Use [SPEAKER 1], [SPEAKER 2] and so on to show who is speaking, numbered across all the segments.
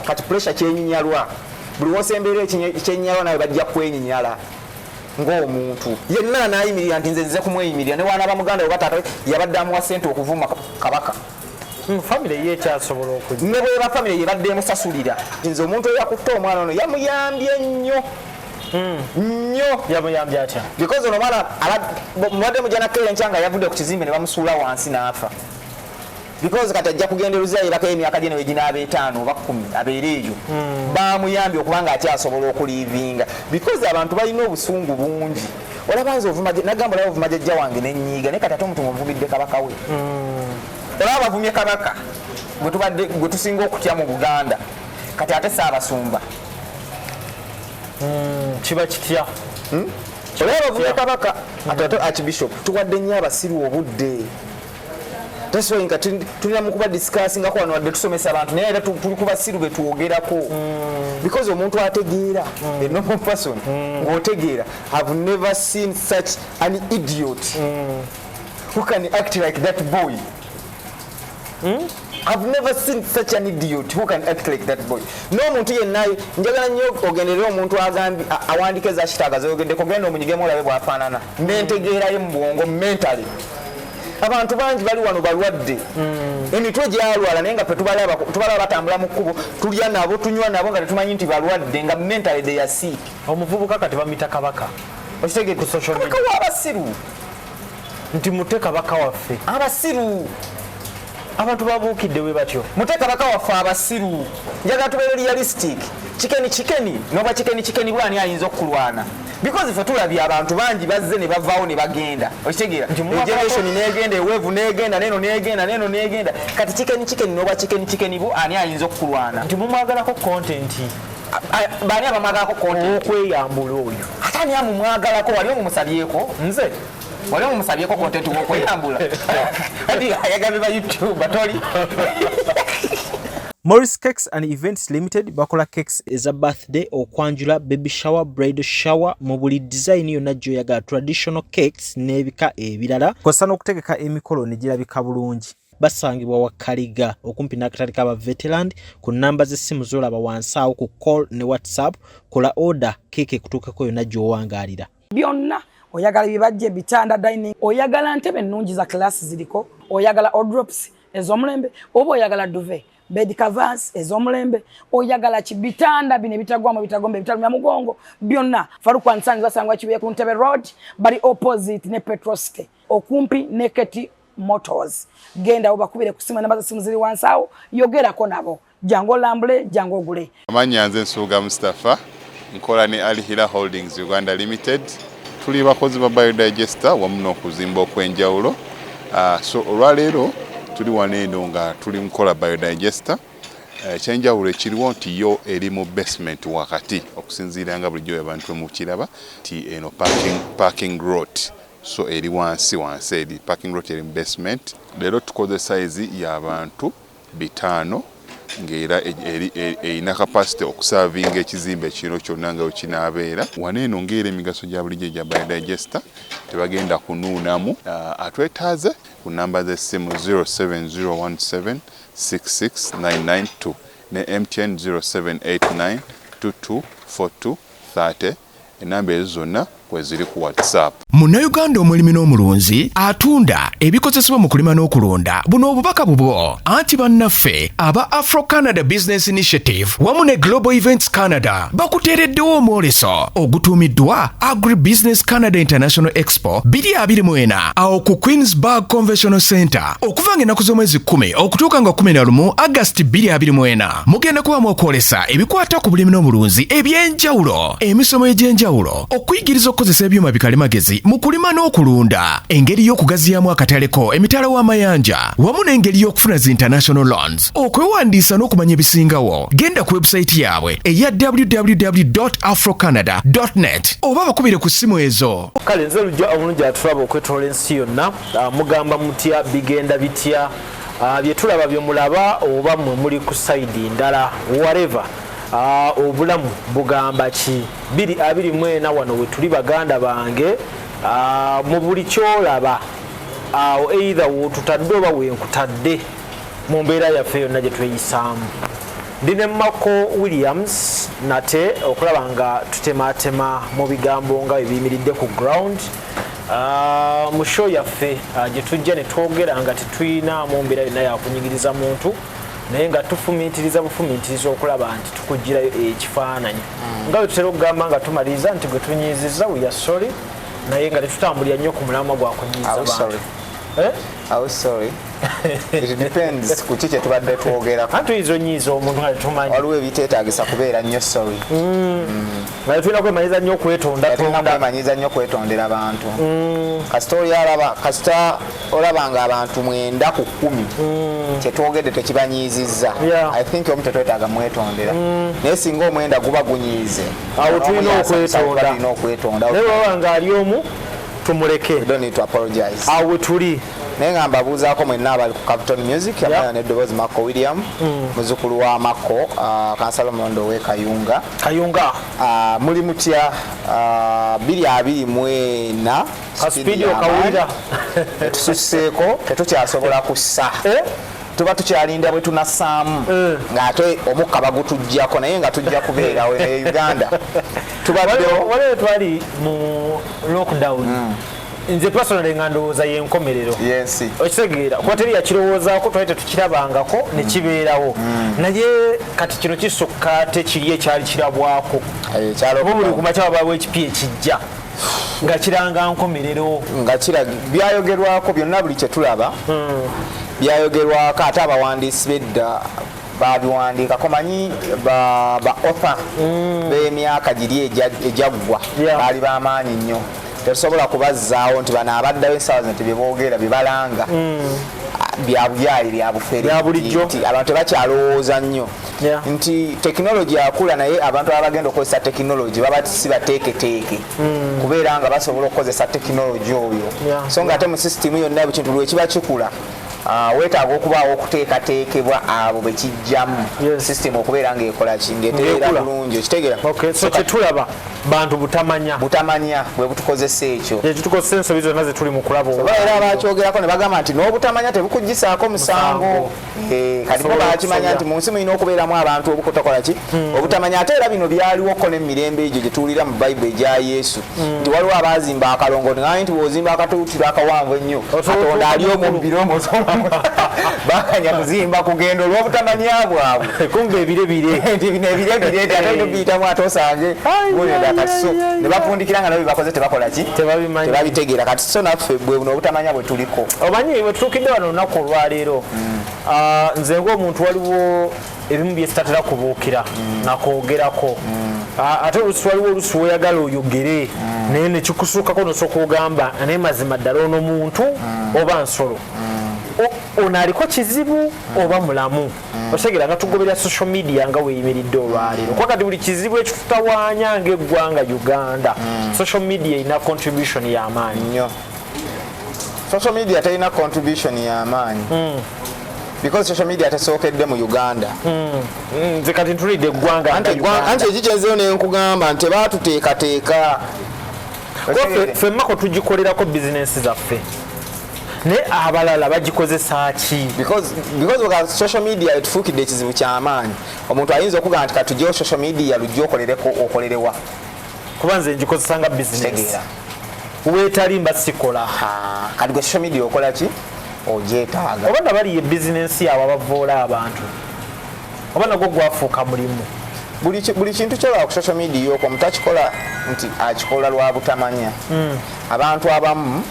[SPEAKER 1] kati pressure kyenyinyalwa buli wosembeera ekyenyinyalwa nawe bajja kwenyinyala ngaomuntu yenna anayimirira nti nze nze kumweyimirira ne wana bamuganda webataata yabadde amuwa sente okuvuma kabaka hmm, famire
[SPEAKER 2] ye ekyasobola oku ne bweba famire yebadde
[SPEAKER 1] emusasulira nze omuntu eyakutte omwana ono yamuyambye nnyo hmm. nnyo
[SPEAKER 2] yamuyambye atya because ono omwana
[SPEAKER 1] mubadde mujanakeera enkya nga yavudde ku kizimbe ne bamusuula wansi n'afa because kati ajja kugenda eruzira yebako emyaka gye nawe ginaaba etaano oba kumi abeera eyo hmm. bamuyambye okubanga akyasobola okulivinga because abantu balina obusungu bungi olaba nze nagamba olaba ovuma jajja wange nenyiiga naye kati ate omutu muvumidde kabaka we hmm. olaba bavumye kabaka gwe tusinga okutya mu buganda kati ate saabasumba
[SPEAKER 2] hmm, kiba kitya olaba
[SPEAKER 1] bavumye kabaka ate ate archbishop tuwadde nnyo abasiru obudde taswa nga tulina mukuba discussingako wano wadde tusomesa abantu naye era tuli kubasiru betwogerako mm. because omuntu ategeera mm. a normal person mm. ng'otegeera have never seen such an idiot who can act like that boy I've never seen such an idiot who can act like that boy. No muntu yenna njagala nnyo ogenderera omuntu agambi awandika eza kitaaga z'oyogedde kugenda omunyigemu olabe bw'afaanana n'entegeera ye mu bwongo mentally abantu bangi bali wano balwadde hmm. emitwe gyalwala naye nga fetubalaba batambula mu kkubo tulya nabo tunywa nabo nga tetumanyi nti balwadde nga mentally they are sick omuvubuka kati bamita
[SPEAKER 2] kabaka okitegee ku social
[SPEAKER 1] media abasiru
[SPEAKER 2] nti mute kabaka waffe abasiru abantu babuukidde we batyo mute kabaka waffe
[SPEAKER 1] abasiru njagala tubeere realistic kikeni kikeni noba kikeni kikeni bwani ayinza okukulwana because fe tulabye abantu bangi bazze ne bavaawo ne bagenda okitegeera generation negenda eweevu negenda neno negenda neno negenda kati kikeni kikeni noba kikeni kikeni bu ani ayinza okukulwana nti mumwagalako
[SPEAKER 2] content
[SPEAKER 1] bani abamwagalako content okweyambula oyo
[SPEAKER 2] ate ani amumwagalako
[SPEAKER 1] wali omumusabyeko nze wali omusabyeko kontenti wokweyambula kati ayagala ba youtube batoli
[SPEAKER 2] Morris Cakes and Events Limited bakola cakes eza birthday okwanjula baby shower bridal shower mu buli design yonna gy'oyagala traditional cakes n'ebika ebirala kw'ossa n'okutegeka emikolo ne girabika bulungi basangibwa wa kaliga okumpi n'akatale ka baveteland ku nnamba z'essimu z'olaba wansi awo ku call ne whatsapp kola oda keeka ekutuukeko yonna gy'owangaalira byonna
[SPEAKER 3] oyagala bibajje bitanda dining oyagala ntebe ennungi za class ziriko oyagala odrops ez'omulembe oba oyagala duve bed covers ez'omulembe oyagala ki bitanda bino ebitagwamu ebitagomba ebitalumya mugongo byonna falukwansani basangwa kibuye ku ntebe road bali opposite ne petrosite okumpi ne keti motors gendawo bakubire ku simu enamba za simu ziri wansi awo yogerako nabo jangu olambule jangu ogule amanya nze nsuuga
[SPEAKER 4] mustafa nkola ne alihira holdings uganda limited tuli bakozi ba biodigester wamu n'okuzimba okw'enjawulo ah, so olwaleero tuli wano eno nga tuli mukola biodigester eh, ekyenjawulo ekiriwo nti yo eri mu basement wakati okusinziira nga bulijjo abantu emukiraba nti eno parking rot so eri wansi wansi eri parking rot eri mu basement leero tukozesa izi y'abantu bitaano ng'era erina kapasite okusaavinga ekizimbe kino kyonna nga wekinaabeera. Wano eno ng'era emigaso gya bulijjo egya Biodigester tebagenda kunuunamu. Atwetaaze ku nnamba z'essimu 0701766992 ne MTN 0789224230. Enamba ezo zonna kweziri ku WhatsApp. Munnayuganda omulimi
[SPEAKER 5] n'omulunzi atunda ebikozesebwa mu kulima n'okulunda buno obubaka bubwo anti bannaffe aba Afro Canada Business Initiative wamu ne Global Events Canada bakuteereddewo omwoleso ogutuumiddwa Agri Business Canada International Expo 2024 awo ku Queensburg Conventional Center okuva nga ennaku z'omwezi 10 okutuuka nga 11 August 2024 mugenda kuba mwokwolesa ebikwata ku bulimi n'obulunzi eby'enjawulo emisomo egy'enjawulo okuyigiriza okukozesa ebyuma bikalimagezi mu kulima n'okulunda engeri y'okugaziyamu akataleko emitala w'amayanja wamu n'engeri y'okufuna zi international loans okwewandiisa n'okumanya ebisingawo genda ku webusayiti yaabwe eya www afrocanada net oba bakubire ku ssimu ezo kale nze lujja omulungi
[SPEAKER 2] atulaba okwetoola ensi yonna ah, mugamba mutya bigenda bitya Ah, byetulaba byemulaba oba mwe muli ku saidi ndala wareva ah, obulamu bugamba ki biri abiri mwena wano wetuli baganda bange ah, mu buli kyolaba awo eitha wotutadde oba wenkutadde mu mbeera yaffe yonna gyetweyisaamu ndi ne mako williams nate okulaba nga tutematema mu bigambo nga ebiyimiridde ku ground Ah, mu show yaffe ah, gye tujja ne twogera nga tetuyinaamu mbeera yonna yakunyigiriza muntu naye nga tufumiitiriza bufumiitiriza okulaba nti tukugirayo ekifaananyi mm. nga bwe tutera okugamba nga tumaliriza nti gwe tunyiizizza weya sorry naye nga tetutambulira nnyo ku mulamwa gwa kunyiiza bantu
[SPEAKER 1] eh? kuki kyetubadde twogerako tuyinza onyiiza omuntu
[SPEAKER 2] nga tetumanyi waliwo ebiteetaagisa
[SPEAKER 1] kubeera nnyo sorry mm. Mm.
[SPEAKER 2] naye tulina kwemanyiza nnyo okwetondatondamanyiza
[SPEAKER 1] nnyo okwetondera abantu mm. kasita oli alaba kasita olaba nga abantu mwenda ku kkumi mm. kyetwogedde tekibanyiizizza i think omu tetwetaaga mwetondera mm. naye singa omwenda guba gunyiize awo tulina
[SPEAKER 2] okwetonda okwetonda naye baba nga ali omu tumuleke
[SPEAKER 1] awo tuli
[SPEAKER 2] naye nga mbabuuzaako
[SPEAKER 1] mwenna abali ku capton music abaana neddoboozi makko william mm. muzukulu wa makko uh, kansala omulondo owe kayunga kayunga uh, muli mutya uh, biri abiri mwena kasipidi
[SPEAKER 2] okawulira etususseeko
[SPEAKER 1] tetukyasobola kussa eh? tuba tukyalinda bwe tunasaamu eh. ng'ate omukka bagutujjako naye nga tujja kubeerawo ne uganda tubaddewo
[SPEAKER 2] waliwo twali mu lockdown mm. nze personally nga ndowooza yenkomerero yensi okitegeera
[SPEAKER 1] kuba teri
[SPEAKER 2] yakirowoozako twali tetukirabangako mm. nekibeerawo mm. naye kati kino kisukka tekiri ekyali kirabwako mubuli eh, kumakya wabawo ekipi ekijja nga kiranga nkomerero nga kiraga
[SPEAKER 1] byayogerwako byonna buli kyetulaba mm. byayogerwako ate abawandiisi bedda babiwandiikako manyi ba otha b'emyaka giri egyaggwa baali bamaanyi nnyo tetusobola kubazzaawo nti bano abaddayo essaawa zino tebibogera bibalanga mm. byabuyaali byabufere abantu tebakyalowooza nnyo nti tekinologi akula naye abantu aba bagenda okukozesa tekinologi baba sibateeketeeke mm. kubeera nga basobola okukozesa tekinologi oyo so nga ate mu sisitimu yonna bukintu lwekiba kikula Ah, weetaaga okubaawo okuteekateekebwa abo be kijjamu sisitemu okubeera ng'ekola ki ng'etereera bulungi okitegera kyetulaba
[SPEAKER 2] bantu butamanya butamanya bwe
[SPEAKER 1] butukozesa ekyo ekitukozesa ensobi zonna ze
[SPEAKER 2] tuli mu kulaba oba era bakyogerako
[SPEAKER 1] ne bagamba nti n'obutamanya tebukuggisaako musango eh, kati bo bakimanya nti mu nsi mulina okubeeramu abantu obukutakola ki hmm. obutamanya ate era bino byaliwoko n'emirembe egyo gye tuwulira mu bayibuli egya yesu hmm. nti waliwo abaazimba akalongo ngai nti bwozimba akatulutiro akawanvu ennyo katonda ali omumbiro omusomamu bakanya kuzimba kugenda olwobutamanya bwabwe kumba ebire bire
[SPEAKER 2] nti bino ebire
[SPEAKER 1] bire nti ate nobiyitamu ate osange mulenda kati so ne bafundikira nga nabo bebakoze tebakola ki tebabitegeera kati so naffe bwe buno obutamanya bwe tuliko omanyi bwe tutuukidde
[SPEAKER 2] wano olunaku olwaleero hmm. ah, nze ngaomuntu waliwo ebimu byetatera kubuukira mm. nakwogerako mm. ate olusi waliwo olusi woyagala oyogere mm. naye nekikusuukako nosooka ogamba naye mazima ddala ono muntu oba nsolo ono aliko kizibu oba mulamu otegera nga tugoberera social media nga weyimiridde olwaleero kuba kati buli kizibu ekitutawanya ngaeggwanga uganda social media erina contribution yamaanyi
[SPEAKER 1] social media terina contribution yamaanyi because social media tasookedde mu uganda hmm. Hmm, nze
[SPEAKER 2] kati ntulidde eggwanga anti ekikyenzeyo
[SPEAKER 1] nenkugamba nti baatuteekateeka
[SPEAKER 2] femmako tugikolerako bizinensi zaffe naye abalala bagikozesa ki
[SPEAKER 1] social media etufuukidde ekizibu kyamaanyi omuntu ayinza okugaa nti katugyewo social media lujja okolereko okolerewa kuba
[SPEAKER 2] nze ngikozesa nga bizinesi wetali mba sikola kati gwe
[SPEAKER 1] social media okola ki ogyetaaga oba nga baliye
[SPEAKER 2] bizinensi yawe abavoola abantu oba nagwo gwafuuka mulimu buli kintu
[SPEAKER 1] kyolaba ku social media okwo mutakikola nti akikola lwa butamanya hmm. abantu abamu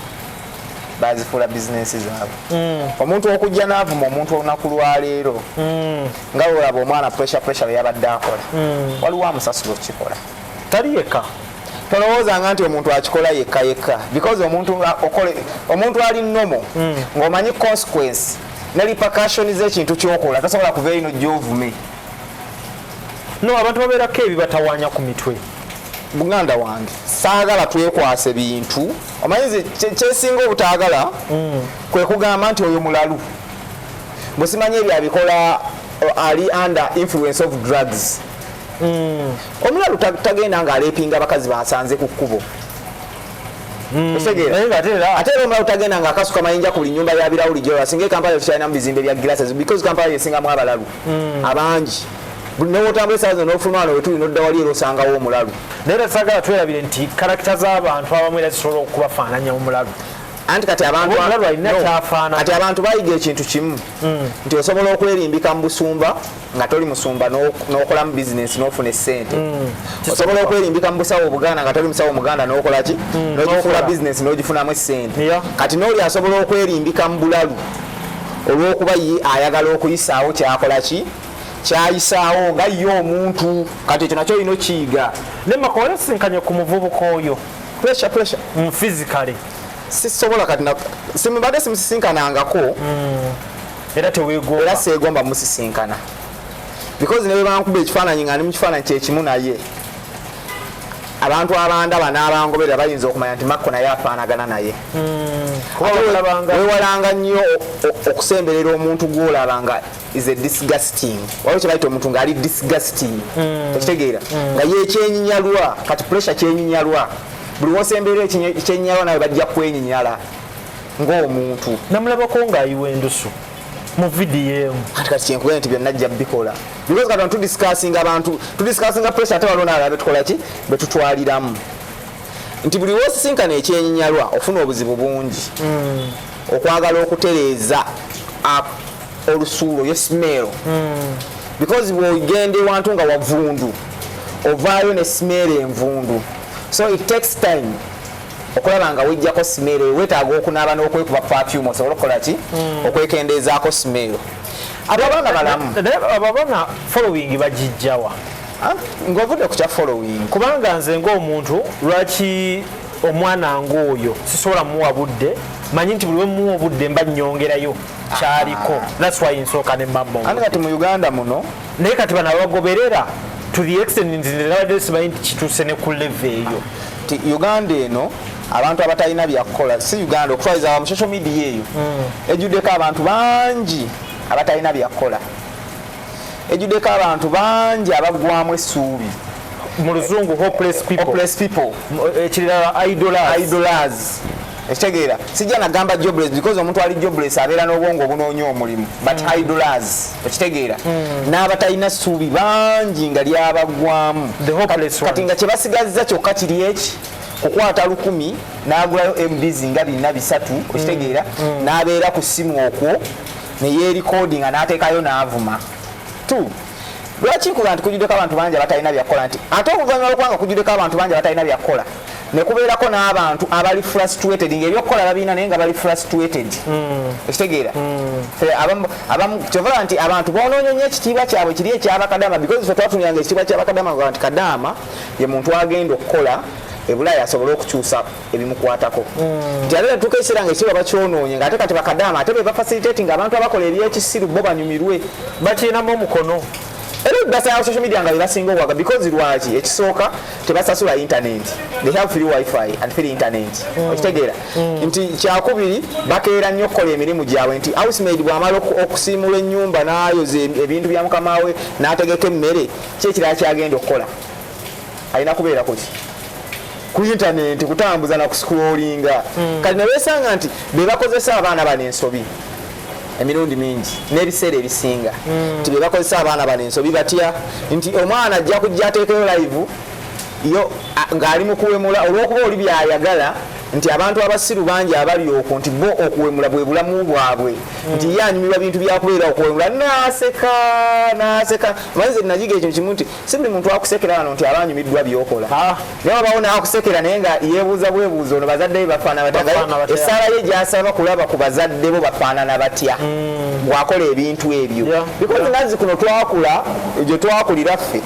[SPEAKER 1] bazifuula bizinensi zaabwe hmm. omuntu okujja n'avuma omuntu olunaku lwaleero hmm. nga olaba omwana pressure pressure yabadde akola waliwo amusasula okukikola tali yekka
[SPEAKER 2] tolowoozanga
[SPEAKER 1] nti omuntu akikola yekka yekka because omuntu omuntu ali nomo hmm. ng'omanyi consequence ne repercussion z'ekintu kyokola tasobola kuva ino gyovume
[SPEAKER 2] no abantu babeerako ebibatawanya ku mitwe muganda
[SPEAKER 1] wange saagala twekwase bintu omanyize kyesinga obutaagala hmm. kwe kugamba nti oyo mulalu bwesimanya ebyo abikola uh, ali under influence of drugs hmm. Omulalu tagenda nga alepinga bakazi basanze ku kkubo. Hmm. Osegeera. Naye ate era ate era omulalu tagenda nga akasuka mayinja ku buli nyumba ya birawuli gyola singa Kampala tukyalina mu bizimbe bya glasses because Kampala yesinga mu abalalu hmm. abangi. newotambula esaa zino nofuluma wano wetuli nodda wali era osangawo omulalu naye era sagala
[SPEAKER 2] twerabire nti karakita z'abantu abamu era zisobola okubafaananya omulalu anti kati abantu
[SPEAKER 1] kati abantu bayiga ekintu kimu hmm. nti osobola okwerimbika mu busumba nga toli musumba nokolamu bizinesi nofuna esente mm. osobola okwerimbika mu busawo obuganda nga toli musawo muganda nokolaki mm. nogifuula bizinesi nogifunamu esente kati noli asobola okwerimbika mu bulalu olwokuba ye ayagala okuyisaawo kyakolaki kyayisaawo nga ye omuntu kati ekyo nakyo olina okiyiga naye makoolesinkanye
[SPEAKER 2] ku muvubuka oyo pressure pressure
[SPEAKER 1] mu physically
[SPEAKER 2] sisobola
[SPEAKER 1] kati simbadde simusisinkanangako mm.
[SPEAKER 2] era tewegomba era segomba
[SPEAKER 1] musisinkana because ne bebankuba ekifaananyi nga ndi mu kifaananyi kyekimu naye abantu abandaba n'abangoberera bayinza okumanya nti makko naye afaanagana naye hmm. wewalanga nnyo okusemberera omuntu gwolaba nga is a disgusting waliwo kyebayita omuntu ngaali disgusting hmm. ekitegeera hmm. nga yekyenyinyalwa kati pressure kyenyinyalwa buli wosemberera ekyenyinyalwa nawe bajja kwenyinyala ng'omuntu namulabako
[SPEAKER 2] ng'ayiwa endusu mu vidiyo emu kati kati kyenkubere nti byonna
[SPEAKER 1] ajja bikola because kati bantu tudisikasinga abantu tudisikasinga pressure ate waliwo nalala betukola ki betutwaliramu nti buli wosisinkana ekyenyinyalwa ofuna obuzibu bungi hmm. okwagala okutereeza olusuulo yesimeero hmm. because bwogenda ewantu nga wavundu ovaayo ne simeero envundu so it takes time okulaba nga wejjako simeero eyo wetaaga okunaaba n'okwekuba pafyumu osobole okukola ki hmm. okwekendeezaako simeero abo abaana balamu abo abaana
[SPEAKER 2] following bagijjawa ah, ng'ovudde
[SPEAKER 1] ku kya following kubanga nze
[SPEAKER 2] ng'omuntu lwaki omwana ng'oyo sisobola muwa budde manyi nti buli wemuwa obudde mba nyongerayo kyaliko ah. that's why nsooka ne mambo ate kati mu uganda muno
[SPEAKER 1] naye kati
[SPEAKER 2] banabagoberera to the extent nti nabadde simanyi nti kituuse ne ku leve eyo nti uganda
[SPEAKER 1] eno abantu abatalina byakukola si uganda okutwaliza wa musocial media eyo mm. ejjuddeko abantu bangi abatalina byakukola ejjuddeko abantu bangi abaggwamu essuubi mu luzungu
[SPEAKER 2] hopeless people, hopeless people. Eh, ekirala idolers, idolers. ekitegeera
[SPEAKER 1] sijja nagamba jobless because omuntu ali jobless abeera n'obwongo obunoonya omulimu but mm. idolers okitegeera hmm. n'abatalina ssuubi bangi nga lyabagwamu kati nga kyebasigazza kyokka kiri eki kukwata lukumi n'agulayo mbs nga bina bisatu hmm. okitegeera hmm. n'abeera ku ssimu okwo neyeerikoodi nga n'ateekayo n'avuma t lwaki nkuga nti kujuddeko abantu bangi abatalina byakukola nti ate oluvannyuma lwokuba nga kujuddeko abantu bangi abatalina byakukola nekubeerako n'abantu abali frustrated nga ebyokukola babirina naye nga bali frustrated hmm. ekitegeera hmm. abamu kyovala nti abantu bonoonyo nyo ekitiibwa kyabwe kiri ekyabakadama because fe twatunyanga ekitiibwa kyabakadama nga nti kadaama ye muntu agenda okukola ebulaaya asobole okukyusa ebimukwatako hmm. nti ate netuuka ekiseera nga ekiba bakyonoonye nga ate kati bakadaama ate be bafacilitati nga abantu abakola ebyekisiru bo banyumirwe bakirinamu
[SPEAKER 2] omukono era ebibasala
[SPEAKER 1] social media nga bebasinga okwaga because lwaki ekisooka tebasasula internet they have free wifi and free internet mm. okitegeera mm. nti kyakubiri bakeera nnyo okukola emirimu gyabwe nti housemaid bwamala okusiimula ennyumba n'ayoza ebintu bya mukama we n'ategeka emmere kyekirala kyagenda okukola alina kubeera kuki ku internet kutambuza na kusikulolinga mm. kati ne beesanga nti be bakozesa abaana bano ensobi emirundi mingi n'ebiseera ebisinga hmm. nti bebakozesa abaana bano ensobi batya nti omwana ajja kujja ateekeyo live yo ng'ali mu kuwemula olw'okuba oli byayagala nti abantu abasiru bangi abali okwo nti bo okuwemula bwe bulamu bwabwe hmm. nti ye anyumirwa bintu byakubeera okuwemula naseka naseka manze nayiga ekyo kimu nti si buli muntu akusekera wano nti aba anyumiddwa byokola ah. naye wabawo naakusekera naye nga yebuuza bwebuuza ono bazadde be bafaana batya esaala ye gyasaba kulaba ku bazadde bo bafaanana batya hmm. bwakola ebintu ebyo bikozi nazi kuno twakula gye twakulira ffe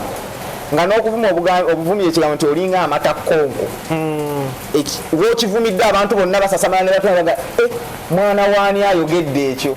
[SPEAKER 1] nga n'okuvuma obuvumi ekigambo nti olinga amata konko hmm. wokivumidde abantu bonna basasamala ne batulaga eh, mwana waani ayogedde ekyo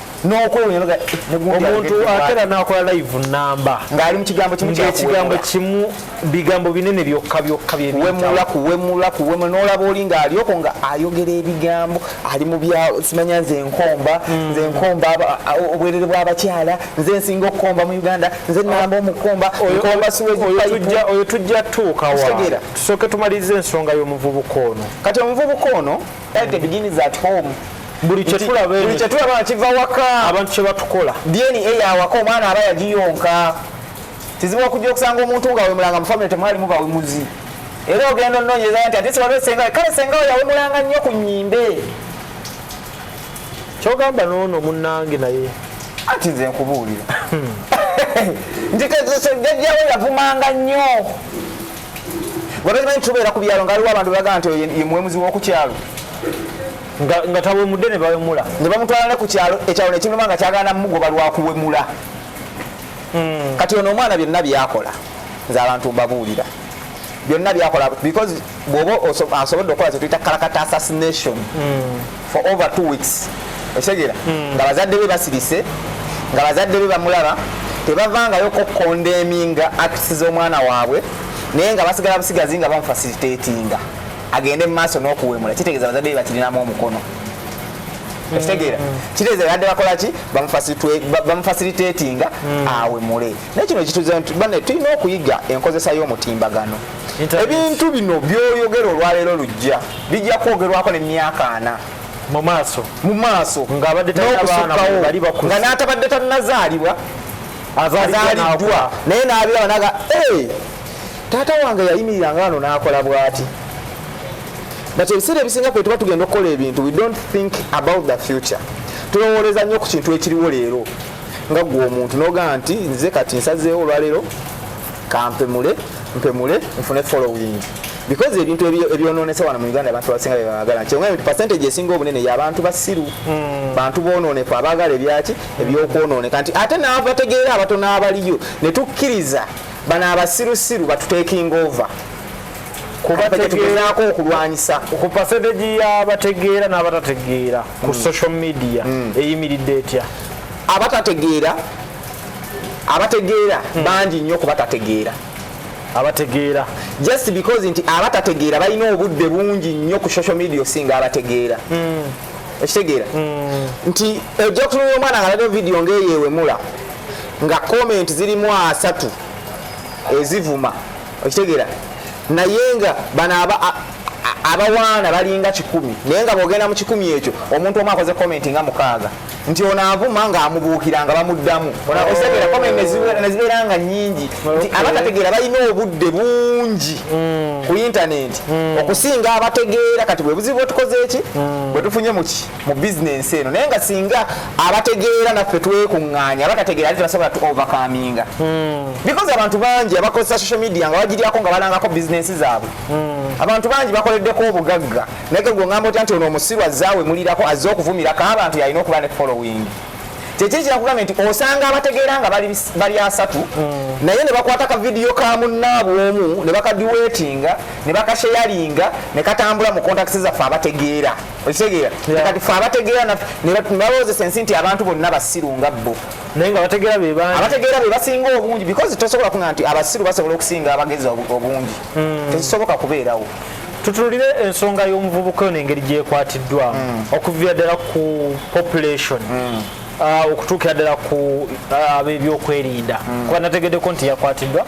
[SPEAKER 1] omuntu
[SPEAKER 2] atera nakola live namba ngaali mukigambo
[SPEAKER 1] kimuekigambo kimu
[SPEAKER 2] bigambo binene byokka byokka byewemulakuwemulakuwemula
[SPEAKER 1] nolaba oli ngaalyoko nga ayogera ebigambo ali mubyalo simanya nze enkomba hmm. nze enkomba obwerere bwabakyala nze nsinga okukomba mu uganda nze namba omukomba
[SPEAKER 2] oyo tujja tuukawa tusooke tumaliriza ensonga yomuvubuka ono kati omuvubuka ono
[SPEAKER 1] Everything begins at home. buli kyetulaba
[SPEAKER 2] buli kyetulaba nga kiva waka
[SPEAKER 1] abantu kye batukola
[SPEAKER 2] dna yawaka
[SPEAKER 1] omwana aba yagiyonka kizibu okujja okusanga omuntu nga wemulanga mu famire temwalimu bawemuzi era ogenda ononyeza nti ate siwaliwo senga kale senga we yawemulanga nnyo ku nyimbe
[SPEAKER 2] kyogamba noono munange naye anti nze
[SPEAKER 1] nkubuulira hmm. nti jajjawe yavumanga nnyo nga tokimanyi tubeera ku byalo nga aliwo abantu bebagaa nti ye muwemuzi w'oku kyalo
[SPEAKER 2] nga tawemudde ne bawemula ne bamutwala ne ku kyalo
[SPEAKER 1] ekyalo nekinuma nga kyagana mugoba lwakuwemula hmm. kati ono omwana byonna byakola nze abantu mbabuulira byonna byakola because bwoba asobodde okukola kyetuyita kalakata assassination mm. for over two weeks okitegera hmm. nga bazadde be basirise nga bazadde be bamulaba tebavangayo kokondeminga acts z'omwana waabwe naye nga basigala busigazi nga bamufasilitatinga agende mu maaso n'okuwemula kitegeeza bazadde be bakirinamu omukono hmm. okitegeera kitegeeza badde bakola ki bamufasilitatinga hmm. awemule naye kino kituze nti bane tulina okuyiga enkozesa y'omutimbagano ebintu bino byoyogera olwaleero lujja bijja kwogerwako nemyaka ana mu maaso mu maaso nga n'atabadde tannazaalibwa azaliddwa naye n'abiraba naga taata wange yayimirira nga ano n'akola bwati but ebiseera ebisinga kwe tuba tugenda okukola ebintu we don't think about the future tulowooleza nnyo ku kintu ekiriwo leero nga gwe omuntu nogamba nti nze kati nsazeewo olwaleero kampemule mpemule nfune following because ebintu ebyononese wano mu uganda abantu basinga bebagala nti nti percentage esinga obunene yabantu basiru hmm. bantu bononeka abagala ebyaki ebyokwononeka nti ate nabategeera abatono abaliyo netukkiriza bano abasirusiru batutekinga over kubategeerako okulwanyisa ku percentage
[SPEAKER 2] yabategeera n'abatategeera ku mm. social media mm. eyimiridde etya abatategeera abategeera mm. bangi nnyo ku batategeera abategeera just
[SPEAKER 1] because nti abatategeera balina obudde bungi nnyo ku social media osinga abategeera mm. ekitegeera mm. nti ojja kutunula omwana nga lado vidiyo ngaeyewemula nga comment zirimu asatu ezivuma okitegeera naye nga bano abawaana balinga kikumi naye nga bwogenda mu kikumi ekyo omuntu omu akoze komenti nga mukaaga nti ono avuma ng'amubuukira nga bamuddamu otegera komenti nezibeera nga nyingi nti abatategeera balina obudde bungi hmm. ku intanenti hmm. okusinga abategeera kati bwe buzibu bwetukoze eki hmm. bwe tufunye muki mu bizinensi eno naye nga singa abategeera naffe twekuŋŋaanya abatategeera ate tebasobola tu overcominga hmm. because abantu bangi abakozesa social media nga bagiryako nga balangako bizinensi zaabwe hmm. abantu bangi bakoleddeko obugagga naye gwe ngamba otya nti ono omusiru azzaawe mulirako azze okuvumirako abantu yalina okuba ne following kyekiri kyakugambye nti osanga abategeera nga bali asatu hmm. naye ne bakwata ka vidiyo ka munnaabwe omu ne bakadiweetinga ne bakasheyalinga ne katambula mu kontakisi zaffe abategeera okitegeera kati fe abategeera nebawoozesa ensi nti abantu bonna basiru nga bo naye nga bategeera
[SPEAKER 2] bebani abategeera be basinga obungi because
[SPEAKER 1] tosobola kuga nti abasiru basobola okusinga abagezi obungi hmm. tekisoboka kubeerawo tutulire
[SPEAKER 2] ensonga y'omuvubuka ono engeri gyekwatiddwa hmm. okuvira ddala ku population hmm. ah, okutuukira ddala ku ah, ab'ebyokwerinda kuba nategeddeko nti yakwatiddwa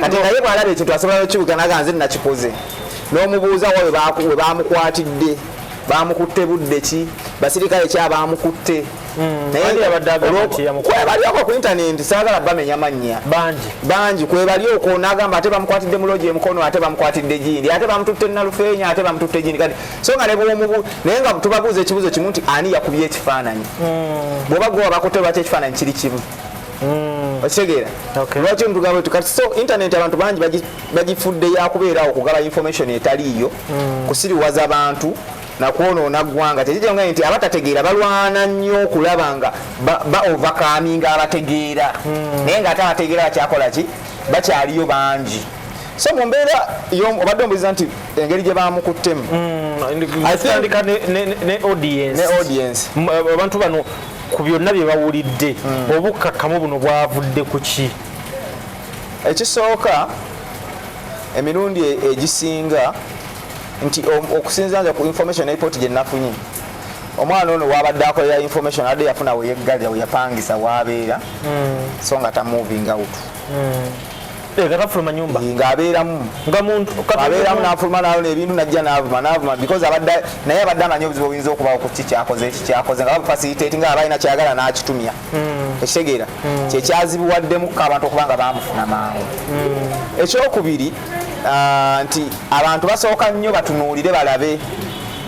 [SPEAKER 1] kati naye bwalaba ekintu asobola nokibuga naga nze nakikoze nomubuuza wa webamukwatidde bamukutte budde ki basirikale ki abamukutte hmm, kwebalyoko ku intaneti sagala bamenya mannya bangi kwebalyoko nagamba ate bamukwatidde mulogi emukono ate bamukwatidde gindi ate bamututte nalufeenya ate bamututte gindi kati so nga nebwomubu naye nga tubabuuza ekibuzo kimu nti ani yakubye ekifaananyi hmm. bwoba gwe wabakutte lwaki ekifaananyi kiri kimu mm. okitegeera lwaki ntugamba etu kati so internet abantu bangi bagifudde yakubeerawo okugaba information etaliiyo mm. kusiriwaza bantu nakwonoona ggwanga tekijonga nti abatategeera balwana nnyo okulaba nga baovakaminga abategeera hmm. naye nga ate abategeera bakyakola ki bakyaliyo bangi so mu mbeera obadde ombuliza nti engeri gye bamukuttemu hmm,
[SPEAKER 2] ne audience abantu bano ku byonna bye bawulidde hmm. obukkakkamu buno bwavudde ku ki ekisooka
[SPEAKER 1] emirundi e-, egisinga nti okusinzira nze ku information eripoti gye nafunye omwana ono wabadde akolera information adde yafuna weyeggalira weyapangisa wabeera hmm. so nga tamuvinga wutu hmm.
[SPEAKER 2] Eh, gatafuluma nyumba eh, ng'abeeramu nga
[SPEAKER 1] muntu abeeramu n'afuluma nalona ebintu najja n'avuma n'avuma because abadde naye abadde amanyi obuzibu obuyinza okubawo ku ki kyakoze eki kyakoze nga bamufasiriteeti nga abalina kyagala n'akitumya hmm. ekitegeera hmm. kyekyazibuwaddemu ko abantu okuba nga baamufuna mangu hmm. ekyokubiri ah, nti abantu basooka nnyo batunuulire balabe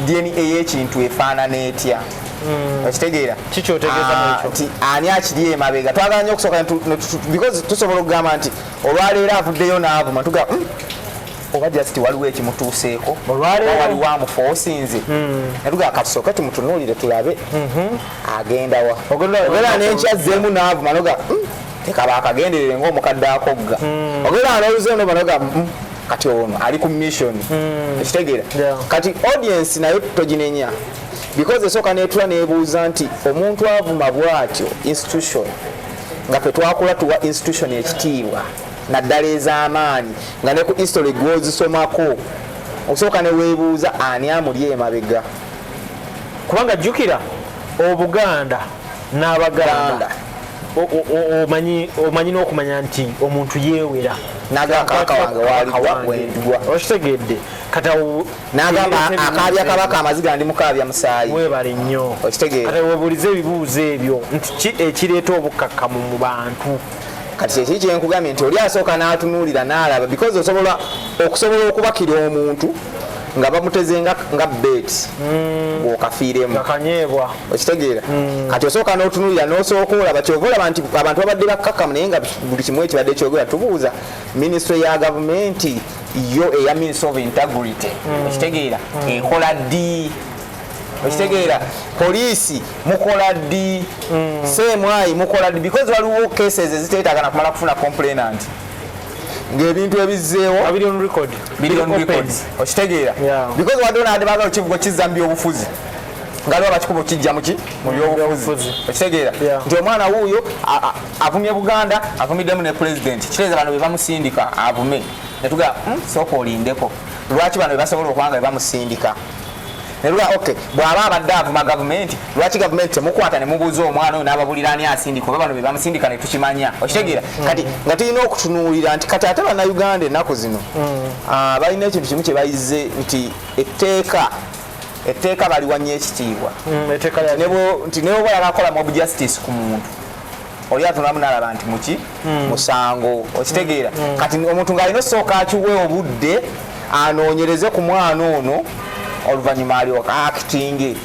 [SPEAKER 1] dna ey'ekintu efaanana etya Mm. okitegeera ah, nti ani akiri emabega twagala nyo okusooka because tusobola okugamba nti olwaleero avuddeyo n'avuma tuga hmm, oba just waliwo ekimutuuseeko waliwo amufa osinze hmm. natuga katusooke tumutunuulire tulabe mhm. agendawa obeera nenkya zzeemu n'avuma noga hmm, tekaba akagenderere ngaomukadde akogga obeera noluze no banoga kati ono ali ku mission ekitegeera kati audience nayo toginenya because esooka netula nebuuza nti omuntu avuma bwatyo institution nga fetwakula tuwa institution ekitiibwa naddala ez'amaanyi nga ne ku history gwozisomako osooka newebuuza ani amuli emabega
[SPEAKER 2] kubanga jjukira obuganda n'abaganda omanyi n'okumanya nti omuntu yeewera nagakaka
[SPEAKER 1] wange waaliwa okitegeedde
[SPEAKER 2] kata n'agamba
[SPEAKER 1] akaabya kabaka amaziga ndi mukaabya musaayi webale nnyo
[SPEAKER 2] okitegeera kati webuulize
[SPEAKER 1] ebibuuzo
[SPEAKER 2] ebyo nti ki ekireeta obukkakkamu mu bantu kati kyekiri
[SPEAKER 1] kyenkugambye nti oli asooka n'atunuulira n'alaba because osobola okusobola okubakira omuntu nga bamuteze nga nga bet mm. bwokafiiremu akanyeebwa
[SPEAKER 2] okitegeera mm.
[SPEAKER 1] kati osooka n'otunulira n'osooka olaba kyova olaba nti abantu babadde bakkakkamu naye nga buli kimu ekibadde kyogera tubuuza minisitule ya gavumenti yo eya minsi of integrity mm. okitegeera mm. ekola ddi okitegeera poliisi mukola ddi mm. semwayi mukola ddi because waliwo cases eziteetagana kumala kufuna complainant ngaebintu ebizzeewo okitegeera because wadde onade bagala okivuga okizza mu byobufuzi ngaliwo bakikuba okijja muki mu byobufuzi okitegeera nti omwana wuuyo avumye buganda avumiddemu ne pulezidenti kiteeza bano bebamusindika avume netugaa hmm, sooka olindeko lwaki bano bebasobola okwanga bebamusindika neruga ok bwaba abadde avuma gavumenti lwaki gavumenti temukwata nemubuuza omwana oyo nababulira ani asindika oba bano bebamusindika netukimanya okitegeera mm. kati nga tulina okutunuulira nti kati ate banauganda ennaku zino mm. ah, balina ekintu kimu kyebayize nti etteeka etteeka baliwanya ekitiibwa mm, nti newoba yalakola mob justice ku muntu oli atunamu nalaba nti muki hmm. musango okitegeera hmm. kati omuntu ng'alina osooka akiwe obudde anoonyereze ku mwana ono oluvannyuma alyoka akitinge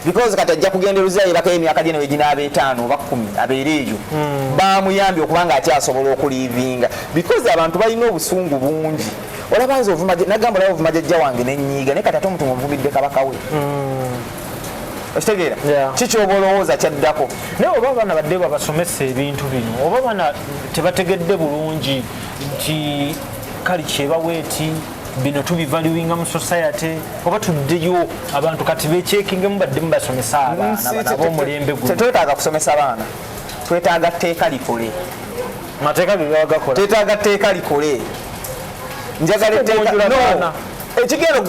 [SPEAKER 1] because kati ajja kugenda eruzayo ebaka emyaka gye neweginaaba etaano oba kumi abeere eyo hmm. bamuyambye okubanga akyasobola okuliivinga because abantu balina obusungu bungi olaba nze nagamba olaba ovuma jajja wange nenyiiga naye kati ate omuntu muvumidde kabaka we okitegeera kiki oba olowooza kyaddako naye oba abaana badde
[SPEAKER 2] babasomesa ebintu bino oba abaana tebategedde bulungi nti kali kyebawa eti bino tubivaluinga mu society oba tuddeyo abantu kati bekyekingemu badde mubasomesa abaanabomulembe gu tetwetaaga kusomesa abaana
[SPEAKER 1] twetaaga tteeka likole mateeka
[SPEAKER 2] gegabagakola twetaaga tteeka
[SPEAKER 1] likole njagala etteeka ekigero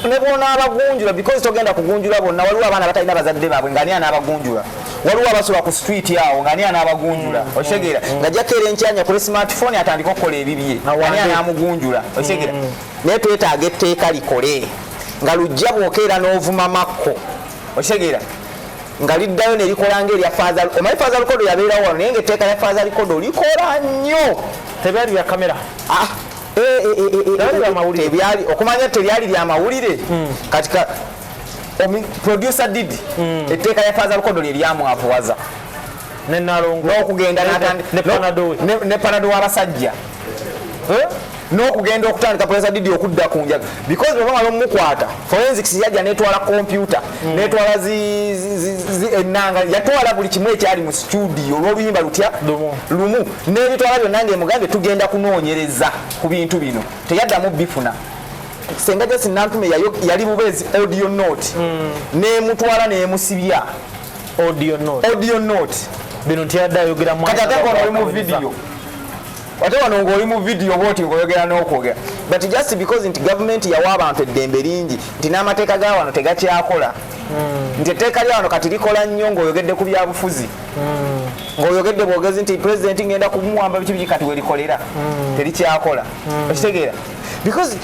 [SPEAKER 1] ne bwonaabagunjula because togenda kugunjula bonna waliwo abaana batalina bazadde baabwe nga ani anaabagunjula waliwo abasula ku street awo nga ani anaabagunjula mm. okitegeera mm. nga jakeera enkyanya kuli smartphone atandika okukola ebibye ani anaamugunjula okitegeera mm. naye twetaaga etteeka likole nga lujja bwokeera n'ovuma makko okitegeera nga liddayo nerikola nga erya faza omanyi faza lukodo yabeerawo wano naye nga etteeka lya faza likodo likola nnyo tebyali bya kamera
[SPEAKER 2] ah.
[SPEAKER 1] ebyali okumanya tebyali lya mawulire hmm. kati producer did hmm. etteeka ya faza lukodo lye lyamwavuwaza
[SPEAKER 2] n'okugenda
[SPEAKER 1] ne panado w'abasajja eh? n'okugenda okutandika producer did okudda ku njaga because bwebamala omukwata forensics yajja netwala kompyuta mm. netwala enanga yatwala buli kimu ekyali mu situdiyo olwoluyimba lutya lumu nebitwala byonna ngaemugambye tugenda kunoonyereza ku bintu bino teyaddamu bifuna senga jasi nantume yali bubeezi audio note mm. nemutwala nemusibya audio note bino ntiyadde
[SPEAKER 2] ayogera mu
[SPEAKER 1] video ate wano ng'oli mu vidiyo oba oti ng'oyogera n'okwogera but just because nti gavumenti yawa abantu eddembe lingi nti n'amateeka ga wano tegakyakola hmm. nti etteeka lya wano kati likola nnyo ng'oyogedde ku byabufuzi hmm. ng'oyogedde bwogezi nti pulezidenti ng'enda kumuwamba biki biki kati welikolera hmm. terikyakola okitegeera because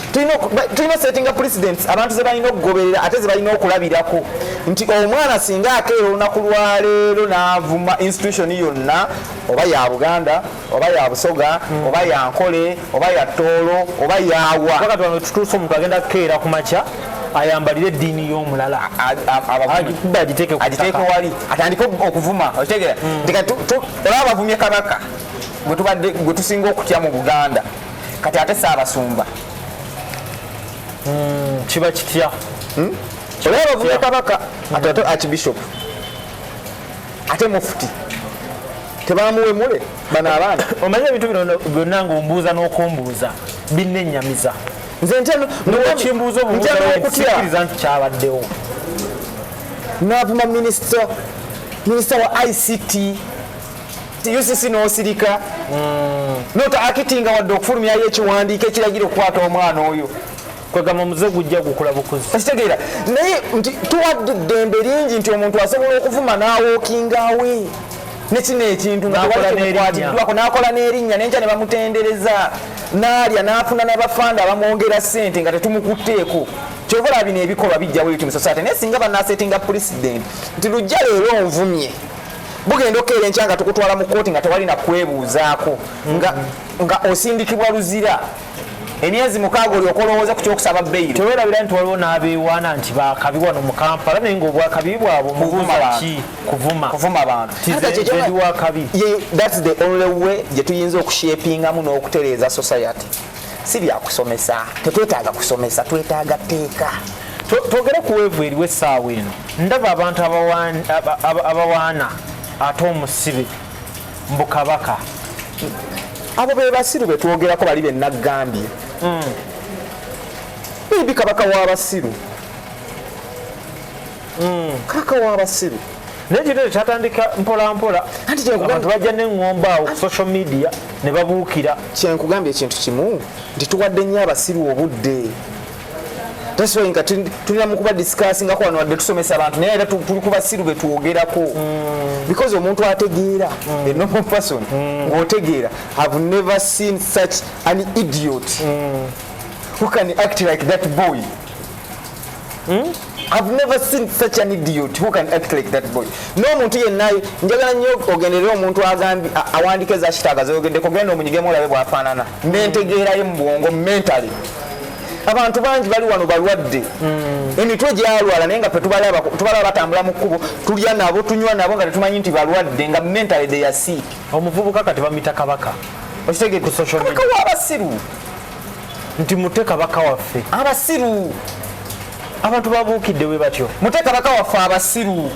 [SPEAKER 1] tulina setting up presidents abantu zebalina okugoberera ate zebalina okulabirako nti omwana singa akeera olunaku lwaleero n'avuma institution yonna oba ya buganda oba ya busoga mm. oba ya nkole oba ya toolo oba yawa bakatwano tutuuse omuntu
[SPEAKER 2] agenda kukeera ku makya ayambalire eddiini y'omulala agiteeke wali
[SPEAKER 1] atandike okuvuma okitegera mm. olaba abavumye kabaka gwe tusinga okutya mu buganda kati ate saabasumba
[SPEAKER 2] mm, kiba kitya hmm? olaba
[SPEAKER 1] abavumye kabaka ate akibishopu ate mufuti tebamuwemule bano abaana omanyi ebintu bino
[SPEAKER 2] byonna ngaombuuza n'okumbuuza binnenyamiza nze
[SPEAKER 1] ntyokimbuuza
[SPEAKER 2] obuuzaokutyakiriza nti kyabaddewo
[SPEAKER 1] navuma minisita minisita wa ict ucc n'osirika hmm. nota akitinga wadde okufulumyayo ekiwandiiko ekiragira okukwata omwana oyo kwegamba omuze
[SPEAKER 2] gujja gukula bukuzi ekitegeera naye
[SPEAKER 1] nti tuwadde eddembe lingi nti omuntu asobola okuvuma n'awookingawe nekino ekintu ngakwatiddwako nakola n'erinnya nenkya ne bamutendereza naalya n'afuna n'abafanda abamwongera ssente nga tetumukutteeko kyobola bino ebikolwa bijjawo eti musasate naye singa banasetinga pulezidenti nti lujja leero onvumye bugenda okukeera enkya nga tukutwala mu kooti nga tewali nakwebuuzaako nga osindikibwa luzira emyezi mukaaga olyoka olowooza ku kyokusaba beyiro tewerabira nti waliwo
[SPEAKER 2] n'abeewaana nti bakabi wano mu kampala naye ngaobwakabi bwabwe mubuuzaki kuvuma bantuwakabi thats the only way gye tuyinza okushepingamu n'okutereeza society si byakusomesa tetwetaaga kusomesa twetaaga tteeka twogere ku weevu eriwo essaawa eno ndaba abantu abawaana ate omusibe mbu kabaka
[SPEAKER 1] abo be basiru be twogerako bali be naggambye hmm. bibi kabaka w'abasiru hmm. kabaka w'abasiru naye kino ekyo
[SPEAKER 2] kyatandika mpolampola abantu bajja neŋŋomba awo ku social media ne babuukira kyenkugambye ekintu
[SPEAKER 1] kimu nti tuwadde nnyo abasiru obudde taswainga tulina mukuba discussingako wano wadde tusomesa abantu naye era tuli kubasiru betwogerako mm. because omuntu ategeera mm. a normal person mm. ng'otegeera have never seen such an idiot who can act like that boy I've never seen such an idiot who can act like that boy. No muntu yenna njagala nnyo ogenderera omuntu agambye awandika eza kitaaga z'oyogedde kugenda omunyigemu olabe bw'afaanana n'entegeera ye mu bwongo mentally abantu bangi bali wano balwadde hmm. emitwe gyalwala naye nga fetubalaba batambula mu kkubo tulya nabo tunywa nabo nga tetumanyi nti balwadde nga mentally they are sick omuvubuka kati bamita
[SPEAKER 2] kabaka okitegee ku social
[SPEAKER 1] media abasiru
[SPEAKER 2] nti mute kabaka waffe abasiru abantu babuukidde we batyo mute kabaka waffe
[SPEAKER 1] abasiru